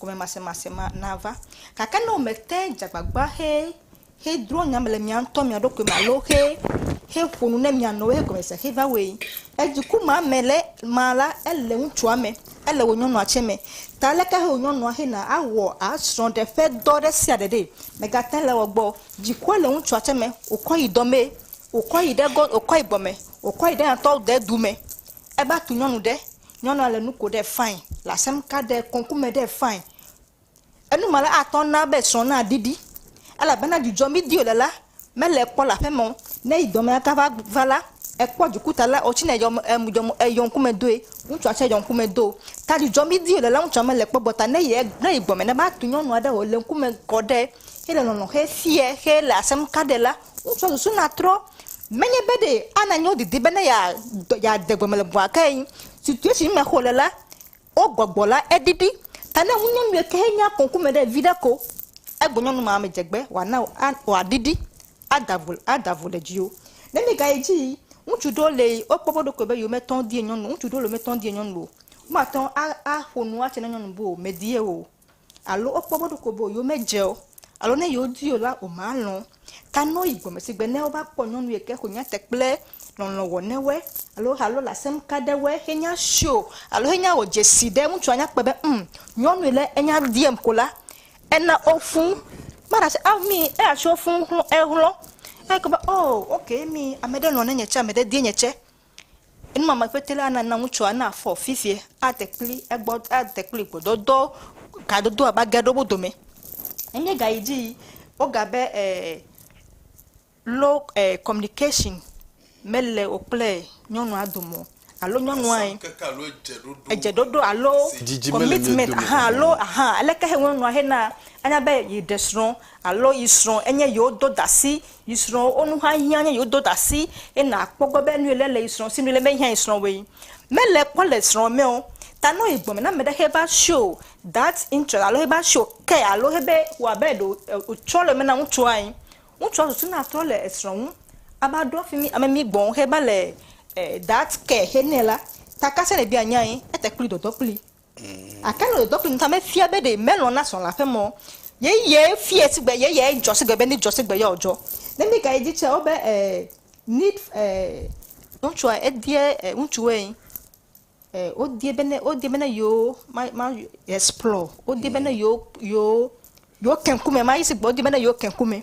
gɔmemasemase ma nava. Gake ne womete dze agbagba he hedrɔ̃ nya me le mia ŋutɔ mia ɖokui me alo he heƒo nu ne mia nɔewo hegɔme se he va wɔe le dziku ma me le ma la, ele ŋutsua me, ele wò nyɔnua tsɛ me. Ta leke he wò nyɔnua hena awɔ asrɔ̃ɖe ƒe dɔ ɖe sia ɖe ɖe? Mègate le egbɔ o. Dzikua le ŋutsua tsɛ me. Wòkɔ yi dɔ mee. Wòkɔ yi ɖe gɔ, wòkɔ yi gɔme. Wòkɔ yi ɖe eya ŋutɔ de du me. Eva tu nyɔnu ɖe, nyɔnua le nu ko ɖe fine, le asem ka ɖe kɔŋku me ɖe fine. Enu ma la atɔ na be srɔ̃ na ɖiɖi elabena dzudzɔ mi di wòle la mele kpɔ le aƒe me o. Ne eyi dɔ me la ka va va la, ekpɔ dzikuta la wotsi nɛ yɔ em yɔ eyɔ ŋkume doe, ŋutsua tsɛ yɔ ŋkume do. Ta dzudzɔ mi di wòle la ŋutsua mele kpɔ gbɔ ta ne yi ne yi gbɔ me ne va tu nyɔnua ɖe o le ŋkume kɔ ɖe hele lɔlɔ xe fiɛ xe le asem ka ɖe la, Wotsɔ susu na trɔ. Menye be ɖe ana nyo didi be ne ya ya de gɔme le bua ke yin. Situation me xo le la, wo gbɔgbɔ la edidi. Ta ne ŋu nyɔnu ɖe ke he nya konku me ɖe vi ɖe ko, egbo nyɔnu ma me dzegbe wa na wo a wa didi a da vo a da vo le dzi wo. Ne mi ga yi dzi yi, ŋutsu ɖewo le yi wo kpɔ be ɖokui be yewo me tɔn di ye nyɔnu, ŋutsu ɖewo le me tɔn di ye nyɔnu o. Wo ma tɔn a a ƒo nu a tse na nyɔnu be o me di ye o. alo wokpɔ be ɖeko be yewo me dze o, alo ne yewo di o la, woma lɔ̃ o. Ta nɔ yi gɔme si gbe ne wo va kpɔ nyɔnu yi ke xo nya te kple lɔlɔ̃ wɔ ne woe, alo alo le asem ka ɖe woe xe nya sio, alo xe nya wɔ dzesi ɖe ŋutsua nya kpɔe be ŋ, nyɔnu yi le enya diem ko la, ena wo fũ. Ma ɖase a mi eya tse wo fũ ŋ xlɔ, ehlɔ. Eye kpɔ be oo ok mi ame ɖe lɔ̃ ne nye tse, ame ɖe die nye tse. Enumamekpete la nana ŋutsua nafɔ vevie, ade kple egbɔ, ade kple gbɔdɔdɔ, kadodo ava ge ɖe wo dome. Enye ga yi dzi yi woga be e low e communication mele wò kple nyɔnua dome o alo nyɔnua ye edze ɖoɖo alo commitment ahan alo ahan aleke he nyɔnua hena anya be yeɖe srɔ̃ alo yi srɔ̃ enye yewo dodasi. Yi srɔ̃ wo nu hã hiã nye yewo do ɖa si ye na kpɔ gbɔ be nuyi le le yi srɔ̃ si nu le me hiã yi srɔ̃ woe me le kpɔ le srɔ̃ me o ta no yi gbɔme na me ɖe xe va sho that interest alo xe va sho care alo xe be wɔ abe ɖe o tsɔ le me na ŋutsua yi ŋutsua susu na trɔ le esrɔ̃ ŋu ava ɖo fimi ame mi gbɔ xe va le that care xe nɛ la ta ka se ne bia nya yi ete kpli dɔdɔ kpli. Gake nɔ dɔdɔ kple ŋuta me fia be ɖe melɔ̃ na srɔ̃ la ƒe mɔ ye ye fia sigbe ye ye dzɔ sigbe be ne dzɔ sigbe ya wodzɔ. Ne mi ga yi dzi tsia wo be eh need eh. Ŋutsua edie eh ŋutsu woe eh wodie be ne wodie be ne yo ma ma explore wodie be ne yo yo yo ke ŋkume ma yi sigbe wodie be ne yo ke ŋkume.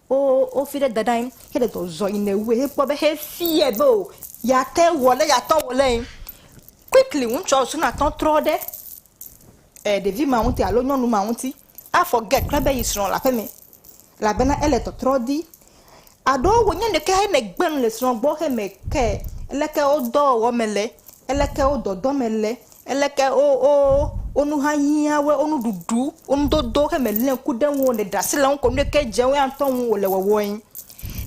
Wo wo fi ɖe daɖa ŋ xe ɖe dɔ zɔ yi ne wue xe kpɔ be xe fiɛ be o ya te wɔ le ya tɔ wɔ le ŋ. Quickly ŋutsua osu na tɔ trɔ ɖe e ɖevi ma ŋuti alo nyɔnu ma ŋuti a forget kura be yi srɔ le aƒeme labena ele tɔtrɔ di. Aɖo wo nye ɖeke xe ne gbe nu le srɔ gbɔ xe me ke eleke wo dɔ wɔwɔ me le, eleke wo dɔdɔ me le. Eleke wo wo wo nu hã hiã woe, wo nuɖuɖu, wo nudodo xe mèléa ŋku ɖe eŋu o, nèɖe asi le eŋu ko nu yi ke dze woe ŋutɔ ŋu wòle wɔwɔe.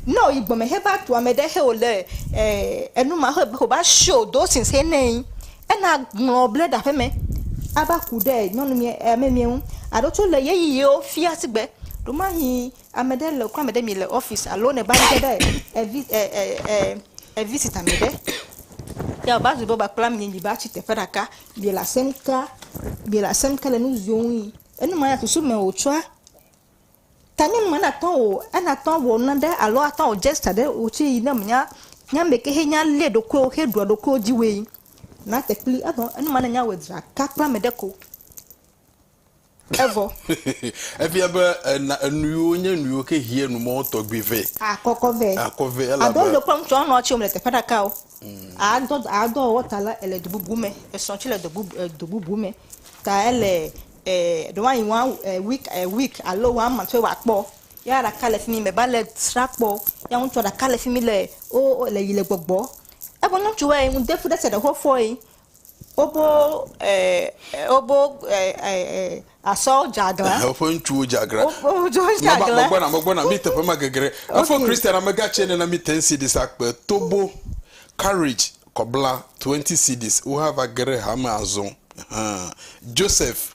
Ne wòyi gbɔ me heva tu ame ɖe xe wòle e enu ma xe wòva show those things xe nɛ ena ŋlɔ bla ɖe aƒeme ava ku ɖe nyɔnu mɛ e ame mɛ ŋu alo tsɛ wole ɣeyiɣiwo fia sigbe ɖomahii. Ame ɖe le ame ɖe mi le ɔfisi alo ne va ge ɖe evi e e e evisiti ame ɖe. Ya va zu be va kpla mi mi va tsi teƒe ɖeka mi le asem ka mi le asem ka le nu ziwo ŋu yi. Enu ma ya susu me wotsɔa ta nyɔnu ma natɔ wò enatɔ wɔ naɖe alo atɔ wɔ gesture ɖe wò tsi yi ne menya nya me ke henya lé ɖokuiwo heɖua ɖokuiwo dzi woe. Nate kpli evɔ enu ma ne nya wɔ dzra ka kpla me ɖe ko. Evɔ. Efia be ena enuyiwo nye nuyiwo ke hiɛ numɔwo tɔgbi vɛ. Akɔkɔ vɛ. Akɔ vɛ elabe. Adɔ ŋdɔ kple ŋtsɔ nɔ tsi womle teƒe ɖaka o. Adɔ adɔ ɔwɔ ta la ele do bubu me. Esɔ tsi le do bubu e do bubu me ta ele e ɖewo anyi wa e week e week alo wa month tse wa kpɔ. Ya ɖaka le fimi me va le sra kpɔ. Ya ŋtsɔ ɖaka le fimi le o o le yi le gbɔgbɔ. Eƒe ŋtsɔ wɛ ŋde fu ɖe se ɖe xɔ fɔɛ Wobo ɛɛ, wobo ɛɛ, ɛɛ, asɔ dze aglã. Ɛhɛ, woƒe ŋutsuwo dze aglã. Woƒe ŋutsuwo dze aglã. Nava, megbɔna, megbɔna, mí teƒe ma gegre. Efɔ Kristian amegã tsɛ nena mí ten cedis akpe tobo, Courage, kɔbla, 20 cedis. Wohã va ge ɖe hame azɔ. Ɛhɛɛ. Joseph.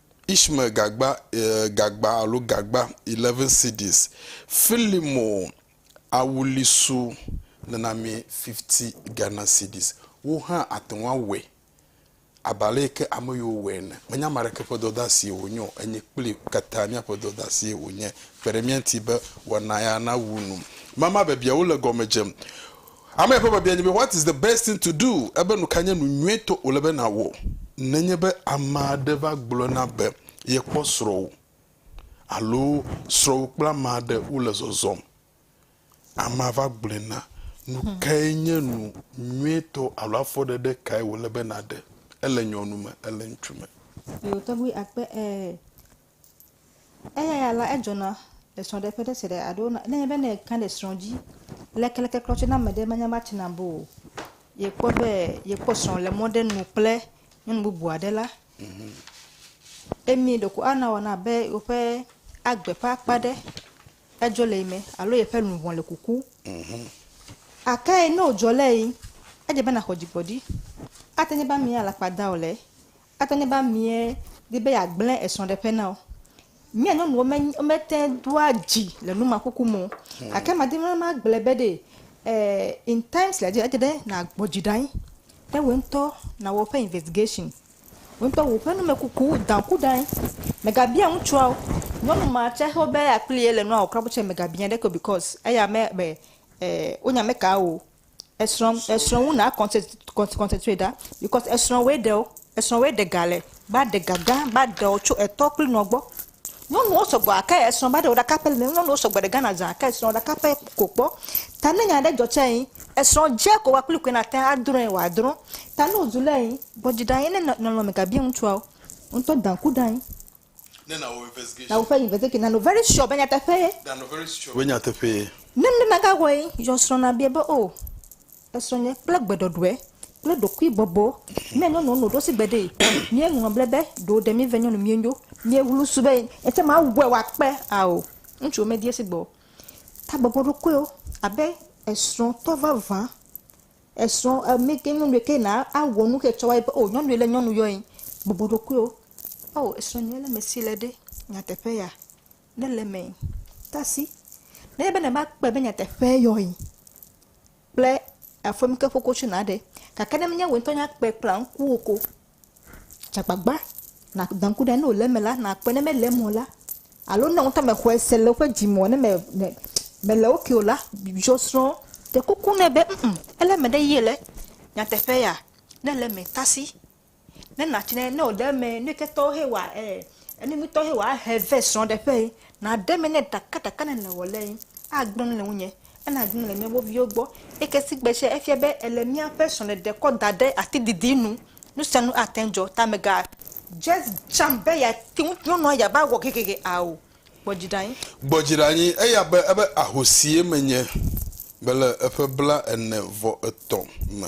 Ishmael gagba, gagba alo gagba, 11 cedis, Filimo awulisu nenamee 50 Ghana cedis. Wo hã ate ŋu awɔe abe ale yi ke ame yewo wɔe ene. Menye ame aɖeke ƒe dɔdeasie wònye o, enye kpli katã míaƒe dɔdeasie wònye. Kpe ɖe mía ŋuti be wɔna ya nawu nu. Mama biabiawo le gɔme dzem. Amea ƒe biabia nye be, What is the best thing to do? Ebe nu kae nye nu nyuitɔ wòle be nàwɔ nenye be ame aɖe va gblɔ na be yekpɔ srɔ̃wò alo srɔ̃wò kple ame aɖe wole zɔzɔm. Amea va gblɔe na, nu kae nye nu nyuitɔ alo afɔɖeɖe kae wòle be nàɖe? Ele nyɔnu me? Ele ŋutsu me? Yewo tɔgbi akpe ɛɛ. Eya ya la, edzɔna le srɔ̃ɖeƒe ɖe se ɖe alo ne enye be ne èka ɖe srɔ̃ dzi lekeleklẽ klɔ tsɛ na ame ɖe manya be ate ŋu abu o, yekpɔ be yekpɔ srɔ̃ le mɔ ɖe nu kple nyɔnu bubu aɖe la, emi ɖeko ana wòanɔ abe woƒe agbe ƒe akpa aɖe edzɔ le yi me alo yeƒe luʋɔ le kuku. Gake ne wòdzɔ le yi, edze be nàxɔ dzigbɔɖi. Ate ŋu nye be amea alakpa da o le Ate ŋu nye be ameɛ di be yeagblẽ esrɔ̃ɖeƒe na wò. Mía nyɔnuwo me, womete ŋu doa dzi le numaxoxo me o. Gake madi be magblɔe be ɖee, ɛɛ in times like this, edze be nàgbɔ dzi ɖe anyi be wò ŋutɔ nàwɔ woƒe investigation. Wò ŋutɔ wò ƒe numekuku dã ku ɖe anyi. Mègabia ŋutsua o. Nyɔnu ma tsɛ xɔ be akpli ye le nua wɔ kura bu tsɛ, mègabia ɖeke o because eya mebe ɛɛ wonya meka wò o. Esrɔ̃ esrɔ̃ ŋu na kɔnse kɔnse kɔnsɛtrate ɖa bikɔs esrɔ̃ woe ɖe wo. Esrɔ̃ woe ɖe ga le va ɖe ga gã va ɖe wo tso etɔ kple nɔ gbɔ. Nyɔnuwo sɔgbɔ gake esrɔ̃ va ɖe wo ɖe kapel me. Nyɔnuwo sɔgbɔ ɖe Ghana zã gake esrɔ̃ ɖe kapel ko kpɔ. Ta ne nya ɖe dzɔ tse yi esrɔ̃ dze ko wa kpli koe nate ŋu adrɔ̃e wòadrɔ̃. Ta ne wozu lé yi gbɔdzida ye ne nɔ nɔnɔme ga bia ŋutsua wo. Ŋutɔ da ŋku ɖe anyi. Ne nàwɔ investigation. Na woƒe investigation nanɔ very sure be nyateƒee. Nanɔ very sure be nyateƒee. Ne ne magawɔe, yɔ srɔ̃ nabia be, O, esrɔ̃ nye kple gbeɖɔɖɔe kple ɖokuibɔbɔ ne nyɔnua nɔ ɖosi gbe ɖee. Míeŋlɔ ble be ɖo ɖe míve nyɔnu míenyo. Míeŋlu su be etsɛ mawɔe wòakpe. Ao, ŋutsuwo medi esi gbe o. Tabɔbɔɖokuiwo abe esrɔ̃tɔ vavã Esrɔ̃ megɛ nyɔnu ɖekɛ na awɔ nu xɛ tsɔ wa yi be o nyɔnu yi le nyɔnu yɔ yen. Bubu ɖokuiwo. Ao esrɔ̃ nyuie le mesi le ɖe nyateƒe ya ne le mɛ tasi ne be na va kpɔe be nyateƒe yɔ yen kple afɔmike ƒokotsu na ɖe gake ne menye wò ŋutɔ nya kpɔe kple ŋkuwò ko. Dze agbagba nàda ŋku ɖe ne wòle eme la, nàkpɔe. Ne mele eme o la, alo ne wò ŋutɔ mèxɔe se le woƒe dzi me o, ne me, me, mèle wo ke o la, yɔ srɔ̃. Ɖe kuku nɛ be, ŋ-ŋ, ele eme ɖe yie le? Nyateƒe ya? Ne ele eme, tasi. Ne nàtsi nɛ, ne wòle eme, nu yi ke tɔ he wòa, e, enu nyui tɔ he wòa, ahe vɛ srɔ̃ɖeƒee. Nàɖe eme nɛ ɖekaɖeka ne nèwɔ le ye, agblɔ nu le ŋunye. Ele agbe le míaƒe viwo gbɔ. Eyi ke si gbe sia efia be ele míaƒe srɔ̃ɖeɖe kɔ da ɖe ati didi nu. Nu sia nu ate ŋu dzɔ ta mègadze dzam be yeate ŋu nyɔnua yeava wɔ gegege ao. Gbɔ dzi ɖe anyi. Gbɔ dzi ɖe anyi. Eya be ebe ahosie menye mele eƒe bla ene vɔ etɔ̃ me.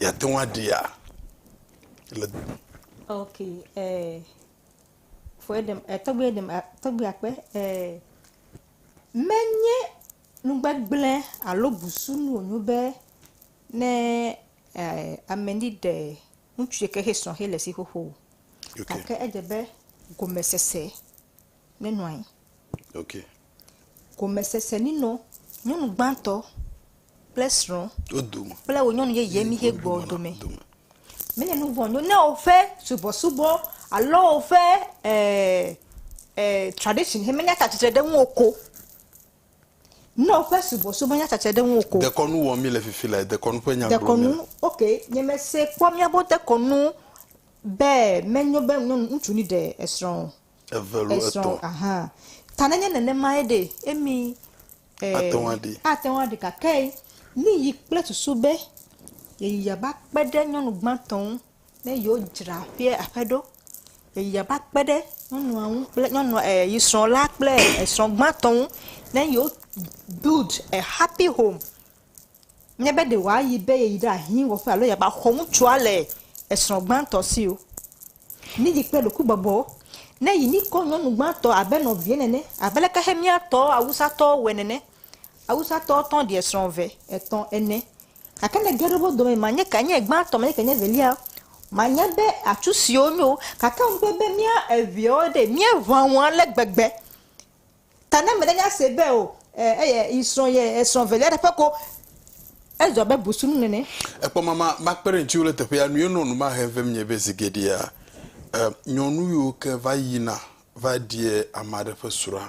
Yate ŋu aɖia le. Ok, eh, for dem, eh, tɔgbe dem, eh, tɔgbe akpe, eh, menye nugbegblẽ alo busunu wònyo be ne eh, ame ni ɖe ŋutsu ɖe ke he srɔ̃ he le si xoxo o. Okay. Gake edze be gomesese nenɔ anyi. Okay. Gomesese ninɔ nyɔnu gbãtɔ kple srɔ̃ Wo dome. kple wò nyɔnu yeye mi xe gbɔ dome. Dome. Mele nu vɔ̃ nyo ne woƒe subɔsubɔ alo woƒe eh, eh, tradition he menya tsatsitre ɖe ŋuwò ko. Ne woƒe subɔsubɔ menya tsatsitre ɖe ŋuwò ko. Dekɔnu wɔm mi le fifi le dekɔnu ƒe nya gblɔm mi Dekɔnu, le. ok, nye mese kpɔ miabo dekɔnu be menyo be nyɔnu ŋutsu ni ɖe esrɔ̃ o. eve lo esrɔ̃ etɔ̃. Aha. Ta nenye nenemae ɖe, emi e, Ate ŋu aɖi. ate ŋu aɖi gake miyi kple susu be yeyiya va kpe ɖe nyɔnu gbãtɔ ŋu ne yewodzra ƒea aƒe ɖo. Yeyiya va kpe ɖe nyɔnua ŋu kple nyɔnua e yi srɔ̃ la kple esrɔ̃ gbãtɔ ŋu ne yewo build a happy home. Nye be ɖe wòayi be yeyi ɖe ahi wɔƒe alo yeava xɔ ŋutsua le esrɔ̃ gbãtɔ si o. Míyi kple ɖokuibɔbɔ. Ne yi míkɔ nyɔnu gbãtɔ abe nɔvia nene, abe leke Xemiatɔ Awusatɔwo wɔe nene. Awusatɔ tɔ̃ ɖi esrɔ̃ eve, etɔ̃, ene. Gake ne ge ɖe wo dome ma nye ke nye gbãtɔ, ma nye ke nye evelia, manya be atsu siwo nyo. Gake ŋugbe be mía eveawo ɖe, míeʋã wo ale gbegbe. Ta ne mele nya se be o, eye yi srɔ̃ ye esrɔ̃ velia ɖe ƒe ko, ezu abe busunu nene. Ekpɔ mama makpe ɖe ŋutiwò le teƒea nu ye nɔ nu ma hem vem nye be zi geɖea, e, nyɔnuwiwo ke va yina va ɖia ame aɖe ƒe srɔ̃a.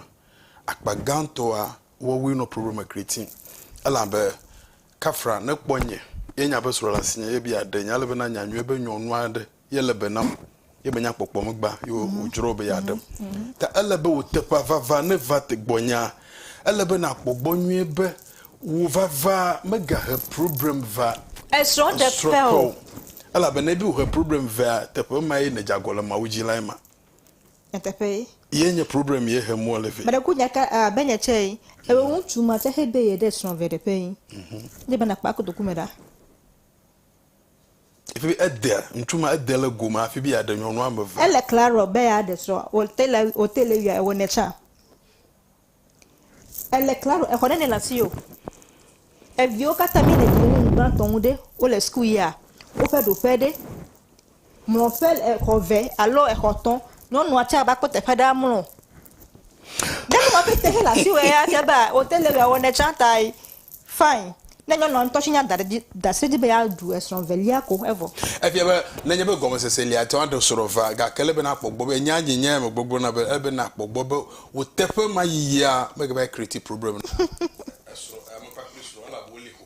Akpa gãtɔa woawoe nɔ problema kriti. Elabe Kafra ne kpɔ nye ye nya be srɔ̃ le asinye ye bia ɖe nye ale be nanya nyuie be nyɔnu aɖe ye le be nam ye menya kpɔkpɔ me gbã ye mhm. wòdzro be yeaɖem mhm. mhm. ta ele be wò teƒea vava ne va te gbɔnya ele be nàkpɔ gbɔ nyuie be wò vava megahe problem va esrɔ̃ɖeƒe o elabena ebe wòhe problem vea teƒe ma ye ne dzagɔ le mawu dzi lae ma nyateƒe ye nye problem ye he mɔ le vɛ mele ku nyaka a be nye tsɛ yi ewe ŋutsu ma tsɛ he de ye ɖe srɔ̃ vɛ ɖeƒe yi ne bana kpa kotoku me ɖa Efi edea ŋutsu ma ede le gome afi be yeaɖe nyɔnu ame eve. Ele klaro be yeaɖe srɔ̃ wòte le wòte le yɔe wɔ nɛ tsã. Ele klaro exɔ ɖe nɛ le asi o. Eviwo katã mi le dziɖe nu ŋgbãtɔ ŋu ɖe wole sukuyia woƒe ɖoƒe ɖe. Mlɔ ƒe le exɔ eve alo exɔ etɔ. Nyɔnua tsa va kpɔ teƒe ɖe amlɔ. Ne nyɔnua pɛtɛ hele asi wɔe ya fia be wote le wɔe ne tsa ta yi fine. Ne nyɔnua ŋutɔ tse nya da ɖe dzi da asi ɖe edzi be ya ɖu esrɔ velia ko evɔ. Efia be nenye be gɔmesese li ate ŋu aɖe srɔ vea gake ele be nakpɔ gbɔ be enya dzi nya ya me gbɔgblɔ na be ele be nakpɔ gbɔ be wò teƒe ma yiyia mege va yi create problem na esrɔ ya me kpakple srɔa elabe woli ko.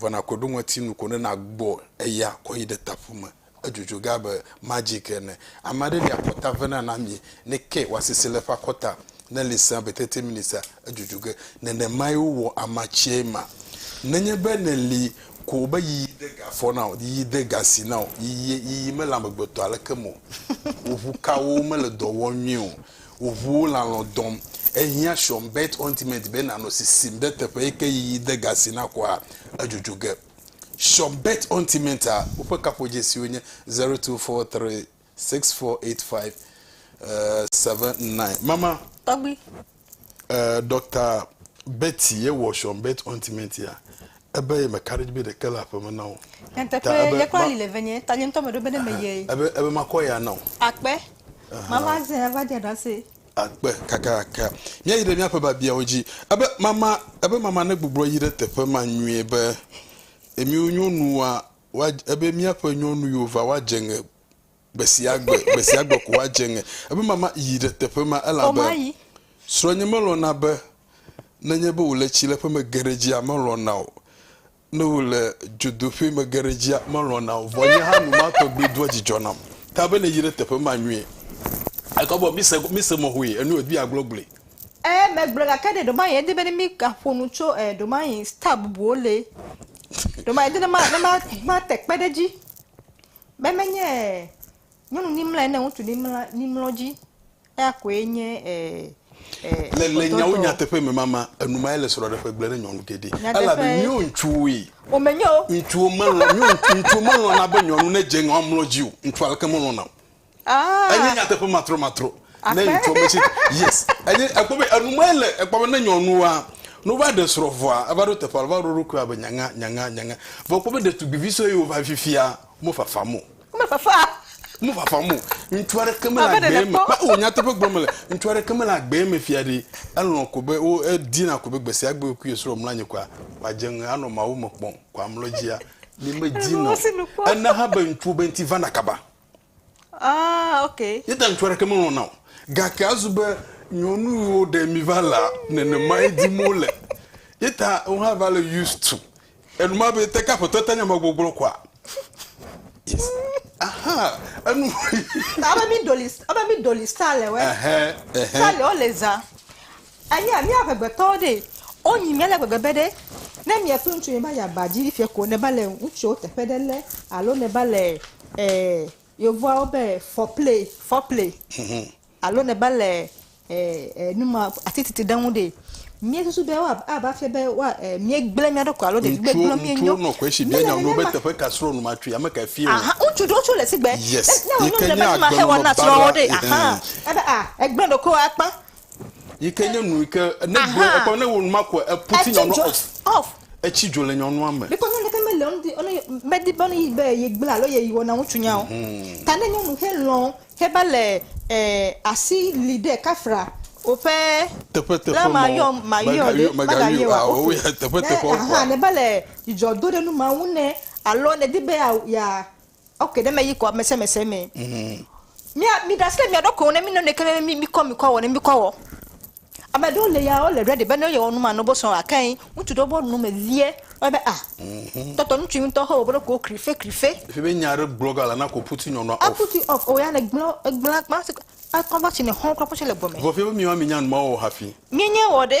Vɔ nàkɔe ɖo ŋɔtinu ko ne nàgbɔ eya kɔ yi ɖe taƒu me. Edzodzoe ge abe magic ene. Ame aɖe li akɔta vena na amie, ne ke wòasese le eƒe akɔta, ne li sẽa be tete minitsa, edzodzoe ge. Nenemae wowɔ amatsiae ma. Nenye be nèli ko be yiyi de ga afɔ na wò, yiyi de ga asi na wò, yiyie, yiyi mele amegbetɔ aleke me o, wò ʋukawo mele dɔ wɔm nyuie o, Wò ʋuwo le alɔ̃ dɔm. Ehiã Sean Bert Ointment be nànɔ sisim ɖe teƒe yi ke yiyi de ga si nakɔa edzodzo ge. Sean Bert Ointment a woƒe kaƒodzesiwo nye zero two four three six four eight five seven nine. Mama. Tɔgbui. Eh, Doctor Betty ye wɔ Sean Bert Ointment ya. Ebe ye meka ɖe edzi be ɖeke le aƒe me na wò. Nyateƒe, Ta ebe ye kple ma- ali le venye, ta nye ŋutɔ meɖo be ne meyee. Ebe, ebe makɔ ya na wò. Akpe. Mava zẽ ava dze ɖase. Akpe, kakaka. Míayi ɖe míaƒe biabiawo dzi. Ebe mama, ebe mama negbublɔ yi ɖe teƒe ma nyuie be, Emiwo nyɔnuwoa, woadz- ebe míaƒe nyɔnu yiwo va, woadze ŋe Gbesiagbe, gbesiagbe ko woadze ŋe. Eƒe mama yi ɖe teƒe ma elabe srɔ̃nye melɔ̃na be nenye be wòle tsileƒe mege ɖe edzia, melɔ̃na o. Ne wòle dzodoƒee mege ɖe edzia, melɔ̃na o. Vɔ nye hã nu ma tɔgbi doa dzidzɔ nam. Ta be nèyi ɖe teƒe ma nyuie. Ekɔ be mise, mise mɔ hoe, enu wòdi yeagblo gblɔe. Ɛɛ, megblɔe gake ɖe ɖewomaɣi edi be ne mígaƒo nu tso ɛɛ ɖewomaɣi star bubuwo lee. Ɖewomaɣi edi ne ma, ne ma, mate kpe ɖe edzi. Be menye nyɔnu nimla ene ŋutsu nimla nimlɔ dzi eya koe nye e, e, le, le nyawo nyateƒe me mama enumae le srɔ̃ɖeƒe gblẽ ɖe nyɔnu geɖe elabe mío ŋutsuwoe womenye o ŋutsuwo melɔ̃ mío ŋutsuwo melɔ̃na be nyɔnu nedze ŋɔ amlɔ dzi o ŋutsu aleke melɔ̃na o Enye nyateƒe matromatro ne information yes enye ekpɔ be enu mae le ekpɔ be ne nyɔnua no va ɖe srɔ̃ vɔa eva ɖo teƒe va ɖo ɖokui abe nyanga nyanga nyanga vɔ ekpɔ be ɖetugbivi sue yiwo va fifia mo fafam o me fafa mo fafam o ŋutsu aɖeke me le agbe me kpa o nyateƒe gblɔm le ŋutsu aɖeke me le agbe me fia ɖi elɔ̃ ko be wo edina ko be gbesi agbe kui srɔ̃ mla nyi kɔa kɔa dze ŋe anɔ mawu me kpɔm kɔa mlɔ dzia mi me dina o ena ha be ŋutsuwo be ŋuti vana kaba Ah, okay. Ye ta ŋutsu aɖeke melɔ̃ na o. Gake azu be nyɔnu yiwo ɖe mi va lea, nenemae dim wole. Ye ta wohã va le used to enuma be te ke aƒetɔ te nya ma gbɔgblɔ kɔa? Yes. Aha, enu. Ta ebe mi doli, ebe mi doli style wɛ. Ɛhɛn, ɛhɛn. Style wɔ le zã. Eye mía ŋegbetɔwo ɖee, wonyi mía le gbegbe be ɖe, ne mie kple ŋutsu miva yi aba dzi fiɛ ko ne va le ŋutsuwo teƒe ɖe le alo ne va le eh yovoawo be foreplay, foreplay alo ne va le eh eh numa ati titi ɖe ŋu ɖee, mie susu be woa a va fia be woa eh mie gble mía ɖokui alo ɖevi gbe gblɔ mie nyo. Ŋutsuwo nɔ xɔɛshi bia nya nuwo be teƒe ka srɔ numa tui ame kae fie wo. Ahan ŋutsu ɖewo tso le sigbe. Yes. Ne, ne wonyo mile be numa xe wɔna srɔ wo ɖee, ahan. Ebe ah egble ɖokuiwo akpa. Yi ke nye nu yi ke ne gblɔ Aha. ekɔ ne wo nu ma ko epu ti Etsi nyɔnua dzo off. off. Etsi dzo le nyɔnua me. Because nyɔnu ɖeka mele eŋuti ɔne medi be ɔne be yegblẽ alo ye wɔna ŋutsunya o. Ta ne nyɔnu xe lɔ̃ heva le ɛ asi li ɖe kafra woƒe Teƒe teƒe la ma mɔ yɔm ma yɔ mega ɖe yɔ- mega mega yɔ yɔ wa awo ofe. ya teƒe Ne teƒe aha kɔa. ne va le dzidzɔ do ɖe nu ma ŋu ne alo ne di be ya ya Ok ne me yi kɔ mese mese me. Mm. Mi mi da sile mi aɖo ko ne mi nɔnɔ kele mi mi kɔ mi kɔ wɔ ne mi kɔ wɔ. Ame ɖewo le ya wo le ready be ne yewɔ nu ma no bo sɔn ake yi ŋutsu ɖewo bo nu me vie. Wo be ah. Mhm. Tɔtɔ ŋutsu ŋutɔ ho bo ko krife krife. Fi be nya ɖe gblɔ ga la na ko puti nyɔnua off. A puti off o ya ne gblɔ gblɔ gba se a kɔnva si ne hɔn kɔ kɔ se le gbɔ me. Vɔ fi be mi ma mi nya nu ma wɔ hafi. Mi nye wɔ ɖe.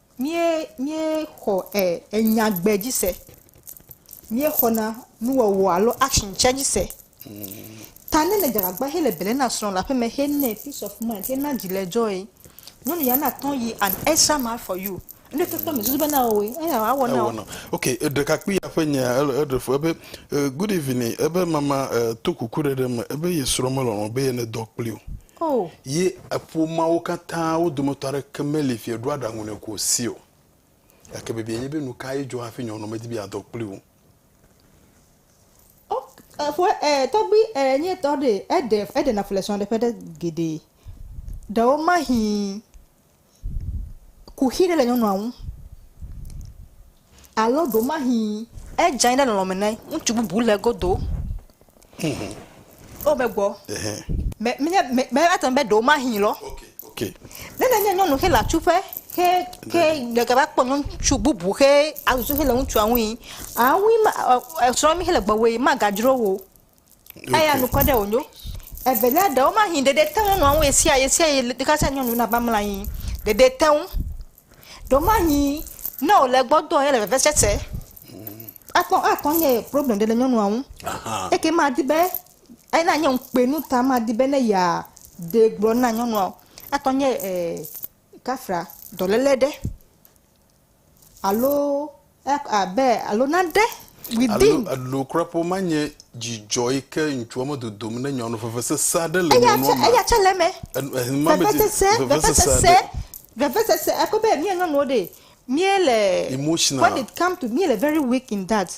Míe, míexɔ e, enyagbe dzi se. Míexɔna nuwɔwɔ alo action tsɛ dzi se. Ta ne le Dzagagba hele bele na srɔ̃ le aƒeme he nɛ peace of mind he na dzi le dzɔe. Nyɔnu ya na tɔn yi an extra mile for you. Ŋɖe to tɔ mèsusu bena eo woe, eya awɔ na Ewɔ eo. na. Ok, ɖekakpui ya ƒe nyea ele eɖe fu ebe eh, good evening, ebe mama eh, to kuku ɖe ɖe me ebe ye srɔ̃ melɔlɔ̃ be ye ne dɔ kpli o. O! Yi eƒomeawo katã, wo dometɔ aɖeke meli fie ɖoa aɖaŋu nɛ ko si o. Gake biabiae nye be, Nukae dzɔ hafi nyɔnua medi be yeadɔ kpli wo? O! Eƒoe e, tɔgbui e, nye tɔ ɖee. Eɖe, eɖena fu le srɔ̃ɖeƒe ɖe geɖe. Ɖewomahi. kuxi ɖe le nyɔnua ŋu alo ɖewomahi edze anyi ɖe nɔnɔme ne ŋutsu bubu le egodo. Wo be gbɔ. Mɛ mɛ mɛ mɛ ate ŋu be ɖewomahi lɔ. Ne nenye nyɔnu xe le atsuƒe xe xe ɖeka va kpɔ ŋutsu bubu xe azu xe le ŋutsua ŋui awui ma esrɔ̃ mi xe le gbɔwòe magadzro wo. Eya nu kɔ ɖe wò nyo. Evelia ɖewo ma hin ɖeɖe teŋu nua ŋu esia ye esia ye ɖeka sia nyɔnu na bamla anyi. Ɖeɖe teŋu. Ɖewo ma hin ne wò le gbɔ dɔ ye le veve se se. Akpɔ akpɔ nye problem ɖe le nyɔnua ŋu. Eke ma di be ayi na nye ŋukpe nu ta ma di be ne ya de gblɔ na nyɔnua. Akpɔ nye eh kafra dɔlele ɖe. Alo ec abe alo naɖe within. Alo elo kura ƒe woma nye dzidzɔ yi ke ŋutsua me dodom ne nyɔnu vevesese aɖe le nyɔnua me. Eya tse le eme. Vevesese vevesese vevesese eko be mía nyɔnuwo ɖe mía le emotional when it come to mía le very weak in that.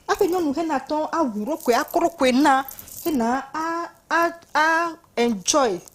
Aƒe nyɔnu he na tɔn awu ɖokoe akɔ ɖokoe na he na a a a enjoy.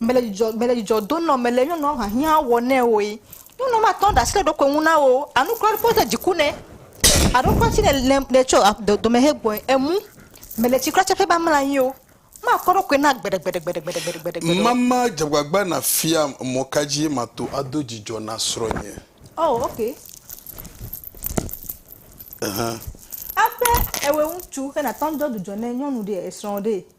Mele dzidzɔ, mele dzidzɔ do nɔ mele nyɔnua hiahiã wɔ nɛ oe. Nyɔnua matɔ ɖe asi ɖe eɖokui ŋu na wò o. Anu kura ɖe kpɔ de dziku nɛ. Aɖo kura tsi ne le tsɔ dome he gbɔe. Emu, mele tsi kura tse ƒe be amla anyi o. Makɔ eɖokui na gbeɖegbeɖegbeɖegbeɖegbeɖegbeɖe o. Mama dze agbagba nàfiam mɔ ka dzie mato ado dzidzɔ na srɔ̃nye. Oh, ok. Ehã. Aƒe, ewɛ ŋutsu, he natɔ ŋdɔ dudzɔ ne nyɔnu ɖee, esrɔ̃ ɖee.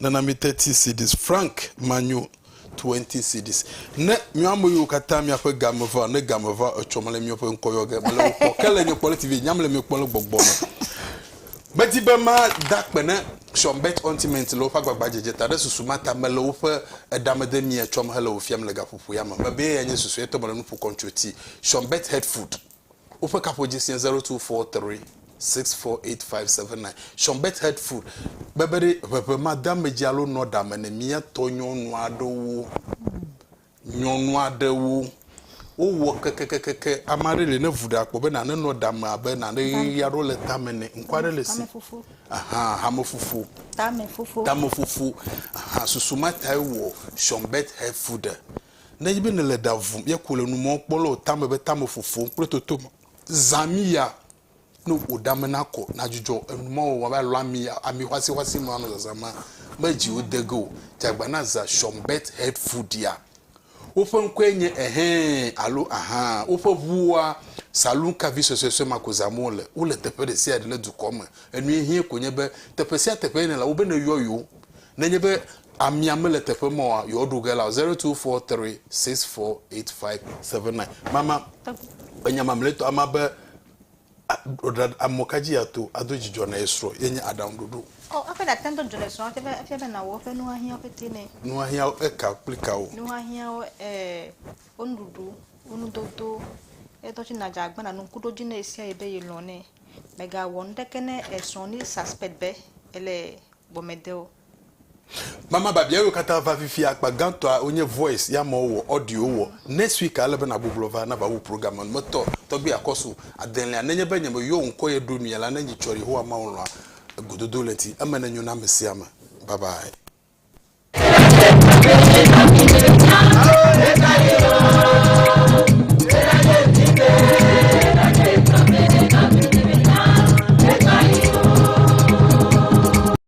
Nana mi thirty cedis. Frank, Manyo, twenty cedis. Ne mia ame yiwo katã miaƒe ga me va, ne ga me va etsɔ mele miaƒe ŋkɔ yɔ ge, mele wo kpɔ. Ke le nye kpɔ ɖe TV dzi, nyam le mi kpɔ le gbɔgbɔ me. Medi be ma da kpe ne Sean Bert Ontiment le woƒe agbagba dzedze ta, ɖe susu ma ta mele woƒe eɖamede mia tsɔm hele wo fiam le gaƒoƒo ya me. Mebe ye ya nye susu etɔ mele nuƒo kɔm tso ti. Sean Bert Headfoot. Woƒe kaƒodzi sie zero two four three six four eight five seven nine. Sean Bet Head Food be be ɖe ʋeʋe madeamedzi alo nɔɖame ne mía tɔ nyɔnu aɖewo. Nyɔnu aɖewo wowɔ kekekeke. Ame aɖe li ne vu ɖe akpɔ be nane nɔ ɖame abe nane ʋeʋi aɖewo le tame nɛ. Ŋku aɖe le esi. Tamefufu. Ahan, hamefufu. Tamefufu. Tamefufu. Ahan, susu ma tae wowɔ Sean Bet Head Food. Ne enye be nèle ɖa vum ye ko le nu mɔm kpɔ le wò tame be tame fofom kple toto me, zã amiya ne wò ɖa me nakɔ, nadzudzɔ enu ma wɔwɔ abe alɔ ami ami xɔasixɔasi ma nɔ zazã ma me dzi wode ge o. Dze agbagba na zã Schomburgk Health Food-ia. Woƒe ŋkɔe nye Ɛhɛ̃ alo Ahã. Woƒe ŋuwoa, saloon car vi suesuesue ma ko zãm wole. Wole teƒe ɖesiaɖe le dukɔa me. Enue hiẽ ko nye be, teƒe sia teƒe nèle, wobe neyɔ yewo. Ne enye be Amea mele teƒe ma o yewoaɖo ge la o zero two four three six four eight five seven nine mama enya mamlɛtɔ ama be amɔka dzi ato ado dzidzɔ na ye srɔ̃ ye nye aɖaŋuɖoɖo. Ɔ oh, eƒe ɖate ŋutɔ dzɔ le srɔ̃a te be efia be nawɔ eƒe nuhiahiãwo pete nɛ. Nuhiahiãwo eka kple kawo? Nuhiahiãwo e wo nuɖuɖu, wo nudodo, etɔ tsi nadza agbe na nu kuɖo dzi ne esia yi be ye lɔ̃ nɛ. Mègawɔ nuɖeke ne esrɔ̃ ni suspect be ele gbɔmede o. Mama babiawo katã va fifia akpa gãtɔa wonye voice ya mɔ wɔ audio wɔ next week ale be na gbuglɔ va na va wu programme nu me tɔ tɔgbi akɔsu adelea nenye be nye me yɔ ŋkɔ ye ɖo mia la ne nyi tsɔ yehowa mawu lɔa egododo le ŋti eme ne nyo na amesiame bye bye.